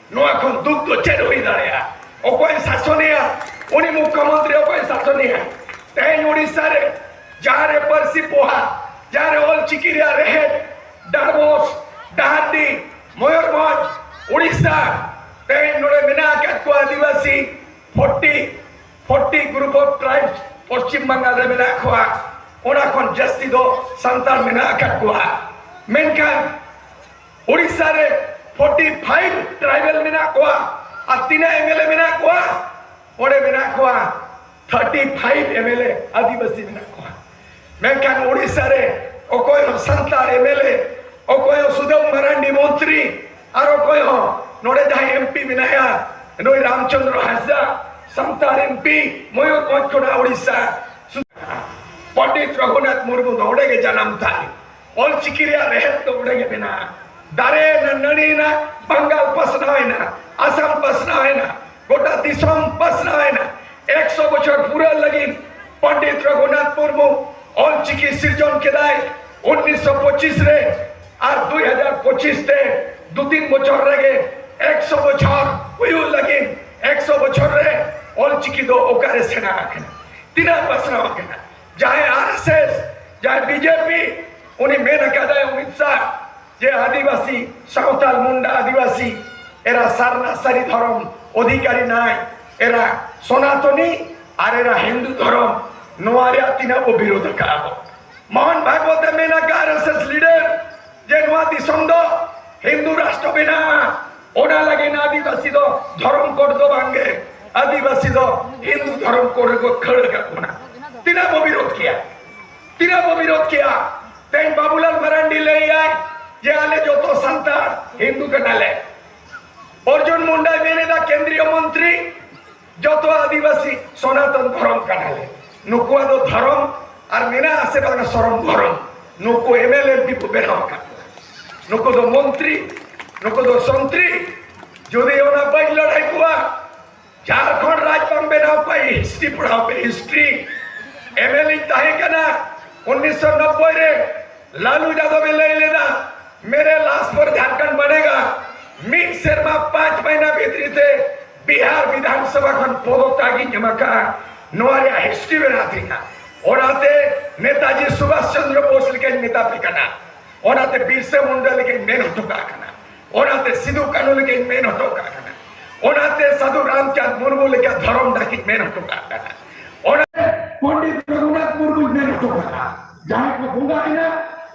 ᱱᱚᱣᱟ ᱠᱷᱚᱱ ᱫᱩᱠ ᱫᱚ ᱪᱮᱫ ᱦᱩᱭ ᱫᱟᱲᱮᱭᱟᱜᱼᱟ ᱚᱠᱚᱭ ᱥᱟᱥᱚᱱᱮᱭᱟ ᱩᱱᱤ ᱢᱩᱠᱷᱭᱚᱢᱚᱱᱛᱨᱤ ᱚᱠᱚᱭ ᱥᱟᱥᱚᱱᱮᱭᱟ ᱛᱮᱦᱮᱧ ᱩᱲᱤᱥᱥᱟ ᱨᱮ ᱡᱟᱦᱟᱸ ᱨᱮ ᱯᱟᱹᱨᱥᱤ ᱯᱚᱦᱟ ᱡᱟᱦᱟᱸ ᱨᱮ ᱚᱞ ᱪᱤᱠᱤ ᱨᱮᱭᱟᱜ ᱨᱮᱦᱮᱫ ᱰᱟᱨᱵᱚᱥ ᱰᱟᱦᱟᱨᱰᱤ ᱢᱚᱭᱩᱨᱵᱷᱚᱸᱡᱽ ᱩᱲᱤᱥᱥᱟ ᱛᱮᱦᱮᱧ ᱱᱚᱰᱮ ᱢᱮᱱᱟᱜ ᱟᱠᱟᱫ ᱠᱚᱣᱟ ᱟᱹᱫᱤᱵᱟᱹᱥᱤ forty forty group of tribes Paschim Bengal ᱨᱮ ᱢᱮᱱᱟᱜ ᱠᱚᱣᱟ ᱚᱱᱟ ᱠᱷᱚᱱ ᱡᱟᱹᱥᱛᱤ ᱫᱚ ᱥᱟᱱᱛᱟᱲ ᱢᱮᱱᱟᱜ ᱟᱠᱟᱫ ᱠᱚᱣᱟ ᱢᱮᱱᱠᱷᱟᱱ ᱩᱲᱤᱥᱥᱟ ᱨᱮ 45 ᱴᱨᱟᱭᱵᱮᱞ ᱢᱮᱱᱟᱜ ᱠᱚᱣᱟ ᱟᱨ ᱛᱤᱱᱟᱹᱜ ᱮᱢᱮᱞᱮ ᱢᱮᱱᱟᱜ ᱠᱚᱣᱟ ᱚᱸᱰᱮ ᱢᱮᱱᱟᱜ ᱠᱚᱣᱟ 35 ᱮᱢᱮᱞᱮ ᱟᱹᱫᱤᱵᱟᱹᱥᱤ ᱢᱮᱱᱟᱜ ᱠᱚᱣᱟ ᱢᱮᱱᱠᱷᱟᱱ ᱩᱲᱤᱥᱥᱟ ᱨᱮ ᱚᱠᱚᱭ ᱦᱚᱸ ᱥᱟᱱᱛᱟᱲ ᱮᱢᱮᱞᱮ ᱚᱠᱚᱭ ᱦᱚᱸ ᱥᱩᱫᱟᱹᱢ ᱢᱟᱨᱟᱱᱰᱤ ᱢᱚᱱᱛᱨᱤ ᱟᱨ ᱚᱠᱚᱭ ᱦᱚᱸ ᱱᱚᱰᱮ ᱡᱟᱦᱟᱸᱭ ᱮᱢᱯᱤ ᱢᱮᱱᱟᱭᱟ ᱱᱩᱭ ᱨᱟᱢᱪᱚᱸᱫᱽᱨᱚ ᱦᱟᱸᱥᱫᱟ ᱥᱟᱱᱛᱟᱲ ᱮᱢᱯᱤ ᱢᱚᱭᱩᱨᱵᱷᱚᱸᱡᱽ ᱠᱷᱚᱱᱟᱜ ᱩᱲᱤᱥᱥᱟ ᱯᱚᱸᱰᱤᱛ ᱨᱚᱜᱷᱩᱱᱟᱛᱷ ᱢᱩᱨᱢᱩ ᱫᱚ ᱚᱸᱰᱮ ᱜᱮ ᱡᱟᱱᱟᱢ ᱛᱟᱭ ᱚᱞ ᱪᱤᱠᱤ ᱨᱮᱭᱟᱜ ᱨᱮᱦᱮᱫ ᱫᱚ ᱚᱸᱰᱮ ᱜᱮ ᱢᱮᱱᱟᱜᱼᱟ ᱫᱟᱨᱮ ᱮᱱᱟ ᱱᱟᱹᱲᱤ ᱮᱱᱟ ᱵᱟᱝᱜᱟᱞ ᱯᱟᱥᱱᱟᱣ ᱮᱱᱟ ᱟᱥᱟᱢ ᱯᱟᱥᱱᱟᱣ ᱮᱱᱟ ᱜᱚᱴᱟ ᱫᱤᱥᱚᱢ ᱯᱟᱥᱱᱟᱣ ᱮᱱᱟ ᱮᱠᱥᱚ ᱵᱚᱪᱷᱚᱨ ᱯᱩᱨᱟᱹ ᱞᱟᱹᱜᱤᱫ ᱯᱚᱱᱰᱤᱛ ᱨᱚᱜᱷᱩᱱᱟᱛᱷ ᱢᱩᱨᱢᱩ ᱚᱞ ᱪᱤᱠᱤ ᱥᱤᱨᱡᱚᱱ ᱠᱮᱫᱟᱭ ᱩᱱᱤᱥᱥᱚ ᱯᱚᱸᱪᱤᱥ ᱨᱮ ᱟᱨ ᱫᱩᱭ ᱦᱟᱡᱟᱨ ᱯᱚᱸᱪᱤᱥ ᱛᱮ ᱫᱩ ᱛᱤᱱ ᱵᱚᱪᱷᱚᱨ ᱨᱮᱜᱮ ᱮᱠᱥᱚ ᱵᱚᱪᱷᱚᱨ ᱦᱩᱭᱩᱜ ᱞᱟᱹᱜᱤᱫ ᱮᱠᱥᱚ ᱵᱚᱪᱷᱚᱨ ᱨᱮ ᱚᱞ ᱪᱤᱠᱤ ᱫᱚ ᱚᱠᱟᱨᱮ ᱥᱮᱬᱟ ᱟᱠᱟᱱᱟ ᱛᱤᱱᱟᱹᱜ ᱯᱟᱥᱱᱟᱣ ᱟᱠᱟᱱᱟ ᱡᱟᱦᱟᱸᱭ ᱟᱨᱮᱥᱮᱥ ᱡᱟᱦᱟᱸᱭ ᱵᱤᱡᱮᱯᱤ ᱩᱱᱤ ᱢᱮᱱ ᱟᱠᱟᱫᱟᱭ ᱚᱢᱤᱛ ᱥᱟᱦ ᱡᱮ ᱟᱹᱫᱤᱵᱟᱹᱥᱤ ᱥᱟᱶᱛᱟᱞ ᱢᱩᱱᱰᱟ ᱟᱹᱫᱤᱵᱟᱹᱥᱤ ᱮᱨᱟ ᱥᱟᱨᱱᱟ ᱥᱟᱹᱨᱤ ᱫᱷᱚᱨᱚᱢ ᱚᱫᱷᱤᱠᱟᱨᱤ ᱱᱟᱭ ᱮᱨᱟ ᱥᱚᱱᱟᱛᱚᱱᱤ ᱟᱨ ᱮᱨᱟ ᱦᱤᱱᱫᱩ ᱫᱷᱚᱨᱚᱢ ᱱᱚᱣᱟ ᱨᱮᱭᱟᱜ ᱛᱤᱱᱟᱹᱜ ᱵᱚ ᱵᱤᱨᱳᱫᱷ ᱟᱠᱟᱫᱼᱟ ᱵᱚ ᱢᱳᱦᱱ ᱵᱷᱟᱜᱽᱣᱚᱛ ᱮ ᱢᱮᱱ ᱟᱠᱟᱫ ᱟᱨᱮᱥᱮᱥ ᱞᱤᱰᱟᱨ ᱡᱮ ᱱᱚᱣᱟ ᱫᱤᱥᱚᱢ ᱫᱚ ᱦᱤᱱᱫᱩ ᱨᱟᱥᱴᱨᱚ ᱵᱮᱱᱟᱜᱼᱟ ᱚᱱᱟ ᱞᱟᱹᱜᱤᱫ ᱟᱹᱫᱤᱵᱟᱹᱥᱤ ᱫᱚ ᱫᱷᱚᱨᱚᱢ ᱠᱳᱰ ᱫᱚ ᱵᱟᱝᱜᱮ ᱟᱹᱫᱤᱵᱟᱹᱥᱤ ᱫᱚ ᱦᱤᱱᱫᱩ ᱫᱷᱚᱨᱚᱢ ᱠᱳᱰ ᱨᱮᱠᱚ ᱠᱷᱟᱹᱲ ᱟᱠᱟᱫ ᱵᱚᱱᱟ ᱛᱤᱱᱟᱹᱜ ᱵᱚ ᱵᱤᱨᱳᱫ ᱠᱮᱭᱟ ᱛᱤᱱᱟᱹᱜ ᱵᱚ ᱵᱤᱨᱳᱫ ᱠᱮᱭᱟ ᱛᱮᱦᱮᱧ ᱵᱟᱵᱩᱞᱟᱞ ᱢᱟᱨᱟᱱᱰᱤ ᱞᱟᱹᱭᱟᱭ ᱡᱮ ᱟᱞᱮ ᱡᱚᱛᱚ ᱥᱟᱱᱛᱟᱲ ᱦᱤᱱᱫᱩ ᱠᱟᱱᱟᱞᱮ ᱚᱨᱡᱩᱱ ᱢᱩᱱᱰᱟᱭ ᱢᱮᱱᱮᱫᱟ ᱠᱮᱱᱫᱨᱤᱭᱚ ᱢᱚᱱᱛᱨᱤ ᱡᱚᱛᱚ ᱟᱹᱫᱤᱵᱟᱹᱥᱤ ᱥᱚᱱᱟᱛᱚᱱ ᱫᱷᱚᱨᱚᱢ ᱠᱟᱱᱟᱞᱮ ᱱᱩᱠᱩᱣᱟᱜ ᱫᱚ ᱫᱷᱚᱨᱚᱢ ᱟᱨ ᱢᱮᱱᱟᱜ ᱟᱥᱮ ᱵᱟᱝ ᱥᱚᱨᱚᱢ ᱫᱷᱚᱨᱚᱢ ᱱᱩᱠᱩ ᱮᱢᱮᱞᱮ ᱮᱢᱯᱤ ᱠᱚ ᱵᱮᱱᱟᱣ ᱟᱠᱟᱫ ᱱᱩᱠᱩ ᱫᱚ ᱢᱚᱱᱛᱨᱤ ᱱᱩᱠᱩ ᱫᱚ ᱥᱚᱱᱛᱨᱤ ᱡᱩᱫᱤ ᱚᱱᱟ ᱵᱟᱹᱧ ᱞᱟᱹᱲᱦᱟᱹᱭ ᱠᱚᱣᱟ ᱡᱷᱟᱲᱠᱷᱚᱸᱰ ᱨᱟᱡᱽ ᱵᱟᱝ ᱵᱮᱱᱟᱣ ᱠᱚᱣᱟ ᱦᱤᱥᱴᱨᱤ ᱯᱟᱲᱦᱟᱣ ᱯᱮ ᱦᱤᱥᱴᱨᱤ ᱮᱢᱮᱞᱮ ᱛᱟᱦᱮᱸ ᱠᱟᱱᱟ ᱩᱱᱤᱥᱥᱚ ᱱᱚᱵᱵᱚᱭ ᱨᱮ ᱞᱟᱞᱩ ᱡᱟᱫᱚᱵ ᱮ ᱞᱟᱹᱭ ᱞᱮᱫᱟ ᱢᱮᱨᱮ ᱞᱟᱥ ᱯᱚᱨ ᱡᱷᱟᱲᱠᱷᱚᱸᱰ ᱵᱟᱱᱮᱜᱟ ᱢᱤᱫ ᱥᱮᱨᱢᱟ ᱯᱟᱸᱪ ᱢᱟᱹᱦᱱᱟᱹ ᱵᱷᱤᱛᱨᱤ ᱛᱮ ᱵᱤᱦᱟᱨ ᱵᱤᱫᱷᱟᱱ ᱥᱚᱵᱷᱟ ᱠᱷᱚᱱ ᱯᱚᱫᱚᱛᱟᱜ ᱤᱧ ᱮᱢ ᱟᱠᱟᱫᱼᱟ ᱱᱚᱣᱟ ᱨᱮᱭᱟᱜ ᱦᱤᱥᱴᱨᱤ ᱢᱮᱱᱟᱜ ᱛᱤᱧᱟ ᱚᱱᱟᱛᱮ ᱱᱮᱛᱟᱡᱤ ᱥᱩᱵᱷᱟᱥ ᱪᱚᱱᱫᱨᱚ ᱵᱳᱥ ᱞᱮᱠᱟᱧ ᱢᱮᱛᱟ ᱯᱮ ᱠᱟᱱᱟ ᱚᱱᱟᱛᱮ ᱵᱤᱨᱥᱟ ᱢᱩᱱᱰᱟ ᱞᱮᱠᱟᱧ ᱢᱮᱱ ᱦᱚᱴᱚ ᱠᱟᱜ ᱠᱟᱱᱟ ᱚᱱᱟᱛᱮ ᱥᱤᱫᱩ ᱠᱟᱹᱱᱩ ᱞᱮᱠᱟᱧ ᱢᱮᱱ ᱦᱚᱴᱚ ᱠᱟᱜ ᱠᱟᱱᱟ ᱚᱱᱟᱛᱮ ᱥᱟᱹᱫᱷᱩ ᱨᱟᱢᱪᱟᱸᱫᱽ ᱢᱩᱨᱢᱩ ᱞᱮᱠᱟ ᱫᱷᱚᱨᱚᱢ ᱰᱟᱠᱤᱧ ᱢᱮᱱ ᱦᱚᱴᱚ ᱠᱟᱜ ᱠᱟᱱᱟ ᱚᱱᱟ ᱯᱚᱱᱰᱤᱛ ᱨᱚᱜᱷᱩᱱᱟᱛᱷ ᱢᱩᱨᱢᱩᱧ ᱢᱮᱱ ᱦᱚᱴᱚ ᱠᱟᱜᱼᱟ ᱡᱟᱦᱟᱸᱭ ᱠᱚ ᱵᱚᱸᱜᱟ ᱮᱱᱟ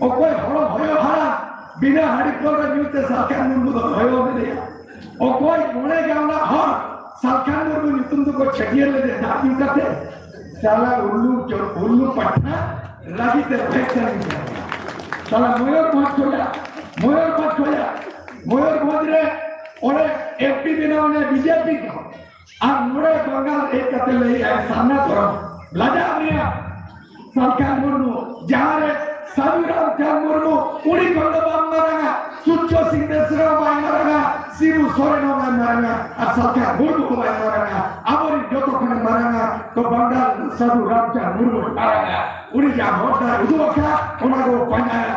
ᱚᱠᱚᱭ ᱦᱚᱲ ᱦᱚᱭᱚ ᱦᱟᱲᱟ ᱵᱤᱱᱟ ᱦᱟᱹᱰᱤ ᱯᱟᱹᱣᱨᱟᱹ ᱧᱩ ᱛᱮ ᱥᱟᱞᱠᱷᱟᱱ ᱢᱩᱨᱢᱩ ᱫᱚ ᱦᱚᱭᱚ ᱞᱮᱫᱮᱭᱟ ᱚᱠᱚᱭ ᱢᱚᱬᱮ ᱜᱟᱶᱞᱟ ᱦᱚᱲ ᱥᱟᱞᱠᱷᱟᱱ ᱢᱩᱨᱢᱩ ᱧᱩᱛᱩᱢ ᱫᱚᱠᱚ ᱪᱷᱟᱹᱴᱭᱟᱹᱨ ᱞᱮᱫᱮᱭᱟ ᱫᱟᱜ ᱧᱩ ᱠᱟᱛᱮ ᱪᱟᱞᱟ ᱩᱞᱞᱩ ᱩᱞᱞᱩ ᱯᱟᱴᱷᱟ ᱨᱟᱜᱤ ᱛᱮ ᱯᱷᱮᱠ ᱥᱟᱹᱨᱤᱧ ᱪᱟᱞᱟ ᱢᱚᱭᱩᱨᱵᱷᱚᱸᱡᱽ ᱠᱷᱚᱡᱟ ᱢᱚᱭᱩᱨᱵᱷᱚᱸᱡᱽ ᱠᱷᱚᱡᱟ ᱢᱚᱭᱩᱨᱵᱷᱚᱸᱡᱽ ᱨᱮ ᱚᱸᱰᱮ ᱮᱢᱯᱤ ᱵᱮᱱᱟᱣ ᱮᱱᱟ ᱵᱤᱡᱮᱯᱤ ᱫᱚ ᱟᱨ ᱢᱚᱬᱮ ᱵᱟᱝᱜᱟᱞ ᱦᱮᱡ ᱠᱟᱛᱮ ᱞᱟᱹᱭ ᱟᱭ ᱥᱟᱢᱱᱟ ᱫᱚᱨᱟᱢ ᱞᱟᱡᱟᱜ ᱢᱮᱭᱟ ᱥᱟᱞᱠᱷᱟᱱ ᱢᱩᱨᱢᱩ ᱡᱟᱦᱟᱸ ᱨᱮ ᱥᱟᱹᱫᱷᱩ ᱨᱟᱢᱪᱟᱸᱫᱽ ᱢᱩᱨᱢᱩ ᱩᱱᱤ ᱠᱷᱚᱱ ᱫᱚ ᱵᱟᱝ ᱢᱟᱨᱟᱝᱟ ᱥᱩᱪᱪᱚ ᱥᱤᱝ ᱵᱮᱥᱨᱟ ᱵᱟᱭ ᱢᱟᱨᱟᱝᱟ ᱥᱤᱵᱩ ᱥᱚᱨᱮᱱ ᱦᱚᱸ ᱵᱟᱭ ᱢᱟᱨᱟᱝᱟ ᱟᱨ ᱥᱟᱞᱠᱷᱟᱱ ᱢᱩᱨᱢᱩ ᱦᱚᱸ ᱵᱟᱭ ᱢᱟᱨᱟᱝᱟ ᱟᱵᱚᱨᱤᱱ ᱡᱚᱛᱚ ᱠᱷᱚᱱᱮ ᱢᱟᱨᱟᱝᱟ ᱛᱚ ᱵᱟᱝᱜᱟᱞ ᱥᱟᱹᱫᱷᱩ ᱨᱟᱢᱪᱟᱸᱫᱽ ᱢᱩᱨᱢᱩ ᱢᱟᱨᱟᱝᱟ ᱩᱱᱤ ᱡᱟᱦᱟᱸ ᱦᱚᱨ ᱰᱟᱦᱟᱨ ᱩᱫᱩᱜ ᱟᱠᱟᱫ ᱚᱱᱟ ᱠᱚ ᱯᱟᱸᱡᱟᱭᱟ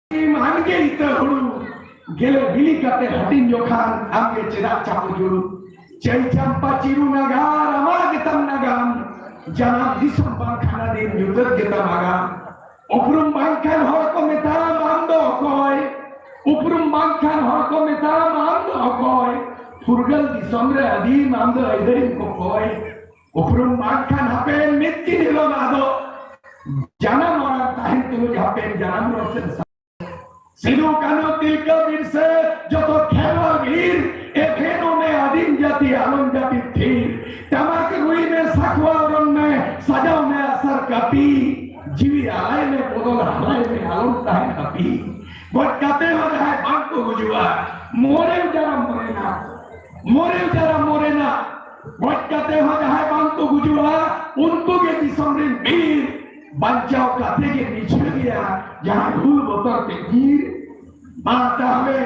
ᱟᱢᱜᱮ ᱤᱛᱟᱹ ᱦᱩᱲᱩ ᱜᱮᱞᱮ ᱵᱤᱞᱤ ᱠᱟᱛᱮ ᱦᱟᱹᱴᱤᱧ ᱡᱚᱠᱷᱟᱱ ᱟᱢᱜᱮ ᱪᱮᱫᱟᱜ ᱪᱟᱯᱚ ᱡᱩᱲᱩ ᱪᱮᱞ ᱪᱟᱢᱯᱟ ᱪᱤᱨᱩ ᱱᱟᱜᱟᱨ ᱟᱢᱟᱜ ᱜᱮᱛᱟᱢ ᱱᱟᱜᱟᱢ ᱡᱟᱱᱟᱢ ᱫᱤᱥᱚᱢ ᱵᱟᱝᱠᱷᱟᱱ ᱟᱹᱰᱤ ᱧᱩᱛᱟᱹᱛ ᱜᱮᱛᱟᱢ ᱟᱜᱟᱢ ᱩᱯᱨᱩᱢ ᱵᱟᱝᱠᱷᱟᱱ ᱦᱚᱲ ᱠᱚ ᱢᱮᱛᱟᱢ ᱟᱢ ᱫᱚ ᱚᱠᱚᱭ ᱩᱯᱨᱩᱢ ᱵᱟᱝᱠᱷᱟᱱ ᱦᱚᱲ ᱠᱚ ᱢᱮᱛᱟᱢ ᱟᱢ ᱫᱚ ᱚᱠᱚᱭ ᱯᱷᱩᱨᱜᱟᱹᱞ ᱫᱤᱥᱚᱢ ᱨᱮ ᱟᱹᱫᱤᱢ ᱟᱢ ᱫᱚ ᱟᱹᱭᱫᱟᱹᱨᱤᱢ ᱠᱚᱠᱚᱭ ᱩᱯᱨᱩᱢ ᱢᱟᱜ ᱠᱷᱟᱱ ᱦᱟᱯᱮᱱ ᱢᱤᱫ ᱫᱤᱱ ᱦᱤᱞᱳᱜ ᱟᱫᱚ ᱡᱟᱱᱟᱢ ᱚᱲᱟᱜ ᱛᱟᱦᱮᱱ ᱛᱩᱞᱩᱡ ᱦᱟᱯᱮᱱ ᱡᱟᱱᱟᱢ ᱨᱚᱲ ᱥᱮ ᱥᱤᱫᱩ ᱠᱟᱹᱱᱦᱩ ᱛᱤᱞᱠᱟᱹ ᱵᱤᱨᱥᱟᱹ ᱡᱚᱛᱚ ᱠᱷᱮᱞᱣᱟ ᱵᱷᱤᱲ ᱮᱠᱷᱮᱱᱚ ᱢᱮ ᱟᱹᱫᱤᱢ ᱡᱟᱹᱛᱤ ᱟᱞᱚᱢ ᱡᱟᱹᱛᱤ ᱛᱷᱤᱨ ᱴᱟᱢᱟᱠ ᱨᱩᱭ ᱢᱮ ᱥᱟᱠᱣᱟ ᱚᱨᱚᱱ ᱢᱮ ᱥᱟᱡᱟᱣ ᱢᱮ ᱟᱥᱟᱨ ᱠᱟᱹᱯᱤ ᱡᱤᱣᱤ ᱟᱞᱟᱭ ᱢᱮ ᱵᱚᱫᱚᱞ ᱦᱟᱞᱟᱭ ᱢᱮ ᱟᱞᱚᱢ ᱛᱟᱦᱮᱱ ᱠᱟᱹᱯᱤ ᱜᱚᱡ ᱠᱟᱛᱮ ᱦᱚᱸ ᱡᱟᱦᱟᱸᱭ ᱵᱟᱝ ᱠᱚ ᱜᱩᱡᱩᱜᱼᱟ ᱢᱚᱨᱮ ᱡᱟᱱᱟᱢ ᱢᱚᱨᱮᱱᱟ ᱢᱚᱨᱮ ᱡᱟᱨᱟ ᱢᱚᱨᱮᱱᱟ ᱜᱚᱡ ᱠᱟᱛᱮ ᱦᱚᱸ ᱡᱟᱦᱟᱸᱭ ᱵᱟᱝ ᱠᱚ ᱜᱩᱡᱩᱜᱼᱟ ᱩᱱᱠᱩ ᱜᱮ ᱫᱤᱥᱚᱢ ᱨᱮᱱ ᱵᱤᱨ ᱵᱟᱧᱪᱟᱣ ᱠᱟᱛᱮ ᱜᱮ ᱱᱤᱪᱷᱟᱹ ᱜᱮᱭᱟ ᱡᱟᱦᱟᱸᱭ ᱦᱩᱞ ᱵᱚᱛᱚᱨ ᱛᱮ ᱵᱤᱨ ᱢᱟ ᱛᱟᱦᱚᱞᱮ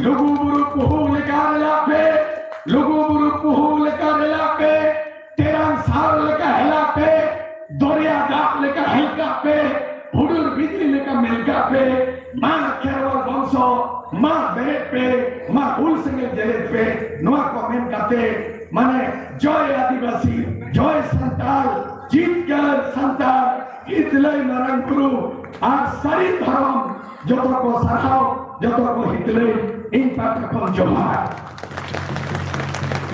ᱞᱩᱜᱩ ᱵᱩᱨᱩ ᱯᱩᱦᱩ ᱞᱮᱠᱟ ᱨᱮᱞᱟ ᱯᱮ ᱞᱩᱜᱩ ᱵᱩᱨᱩ ᱯᱩᱦᱩ ᱞᱮᱠᱟ ᱨᱮᱞᱟ ᱯᱮ ᱛᱮᱨᱟᱝ ᱥᱟᱨ ᱞᱮᱠᱟ ᱦᱮᱞᱟ ᱯᱮ ᱫᱚᱨᱭᱟ ᱫᱟᱜ ᱞᱮᱠᱟ ᱦᱮᱞᱠᱟ ᱯᱮ ᱦᱩᱰᱩᱨ ᱵᱤᱡᱽᱞᱤ ᱞᱮᱠᱟ ᱢᱮᱞᱠᱟ ᱯᱮ ᱢᱟ ᱠᱷᱮᱨᱣᱟᱞ ᱵᱚᱝᱥᱚ ᱢᱟ ᱵᱮᱨᱮᱫ ᱯᱮ ᱢᱟ ᱦᱩᱞ ᱥᱮᱸᱜᱮᱞ ᱡᱮᱨᱮᱫ ᱯᱮ ᱱᱚᱣᱟ ᱠᱚ ᱢᱮᱱ ᱠᱟᱛᱮ ᱢᱟᱱᱮ ᱡᱚᱭ ᱟᱹᱫᱤᱵᱟᱹᱥᱤ ᱡᱚᱭ ᱥᱟᱱᱛᱟᱲ ᱡᱤᱛᱠᱟᱹᱨ ᱥᱟᱱᱛᱟᱲ ᱦᱤᱛᱞᱟᱹᱭ ᱢᱟᱨᱟᱝ ᱵᱩᱨᱩ ᱟᱨ ᱥᱟᱹᱨᱤ ᱫᱷᱚᱨᱚᱢ ᱡᱚᱛᱚ ᱠᱚ ᱥᱟᱨᱦᱟᱣ ᱡᱚᱛᱚ ᱠᱚ ᱦᱤᱛᱞᱟᱹᱭ ᱤᱧ ᱯᱟᱦᱴᱟ ᱠᱷᱚᱱ ᱡᱚᱦᱟᱨ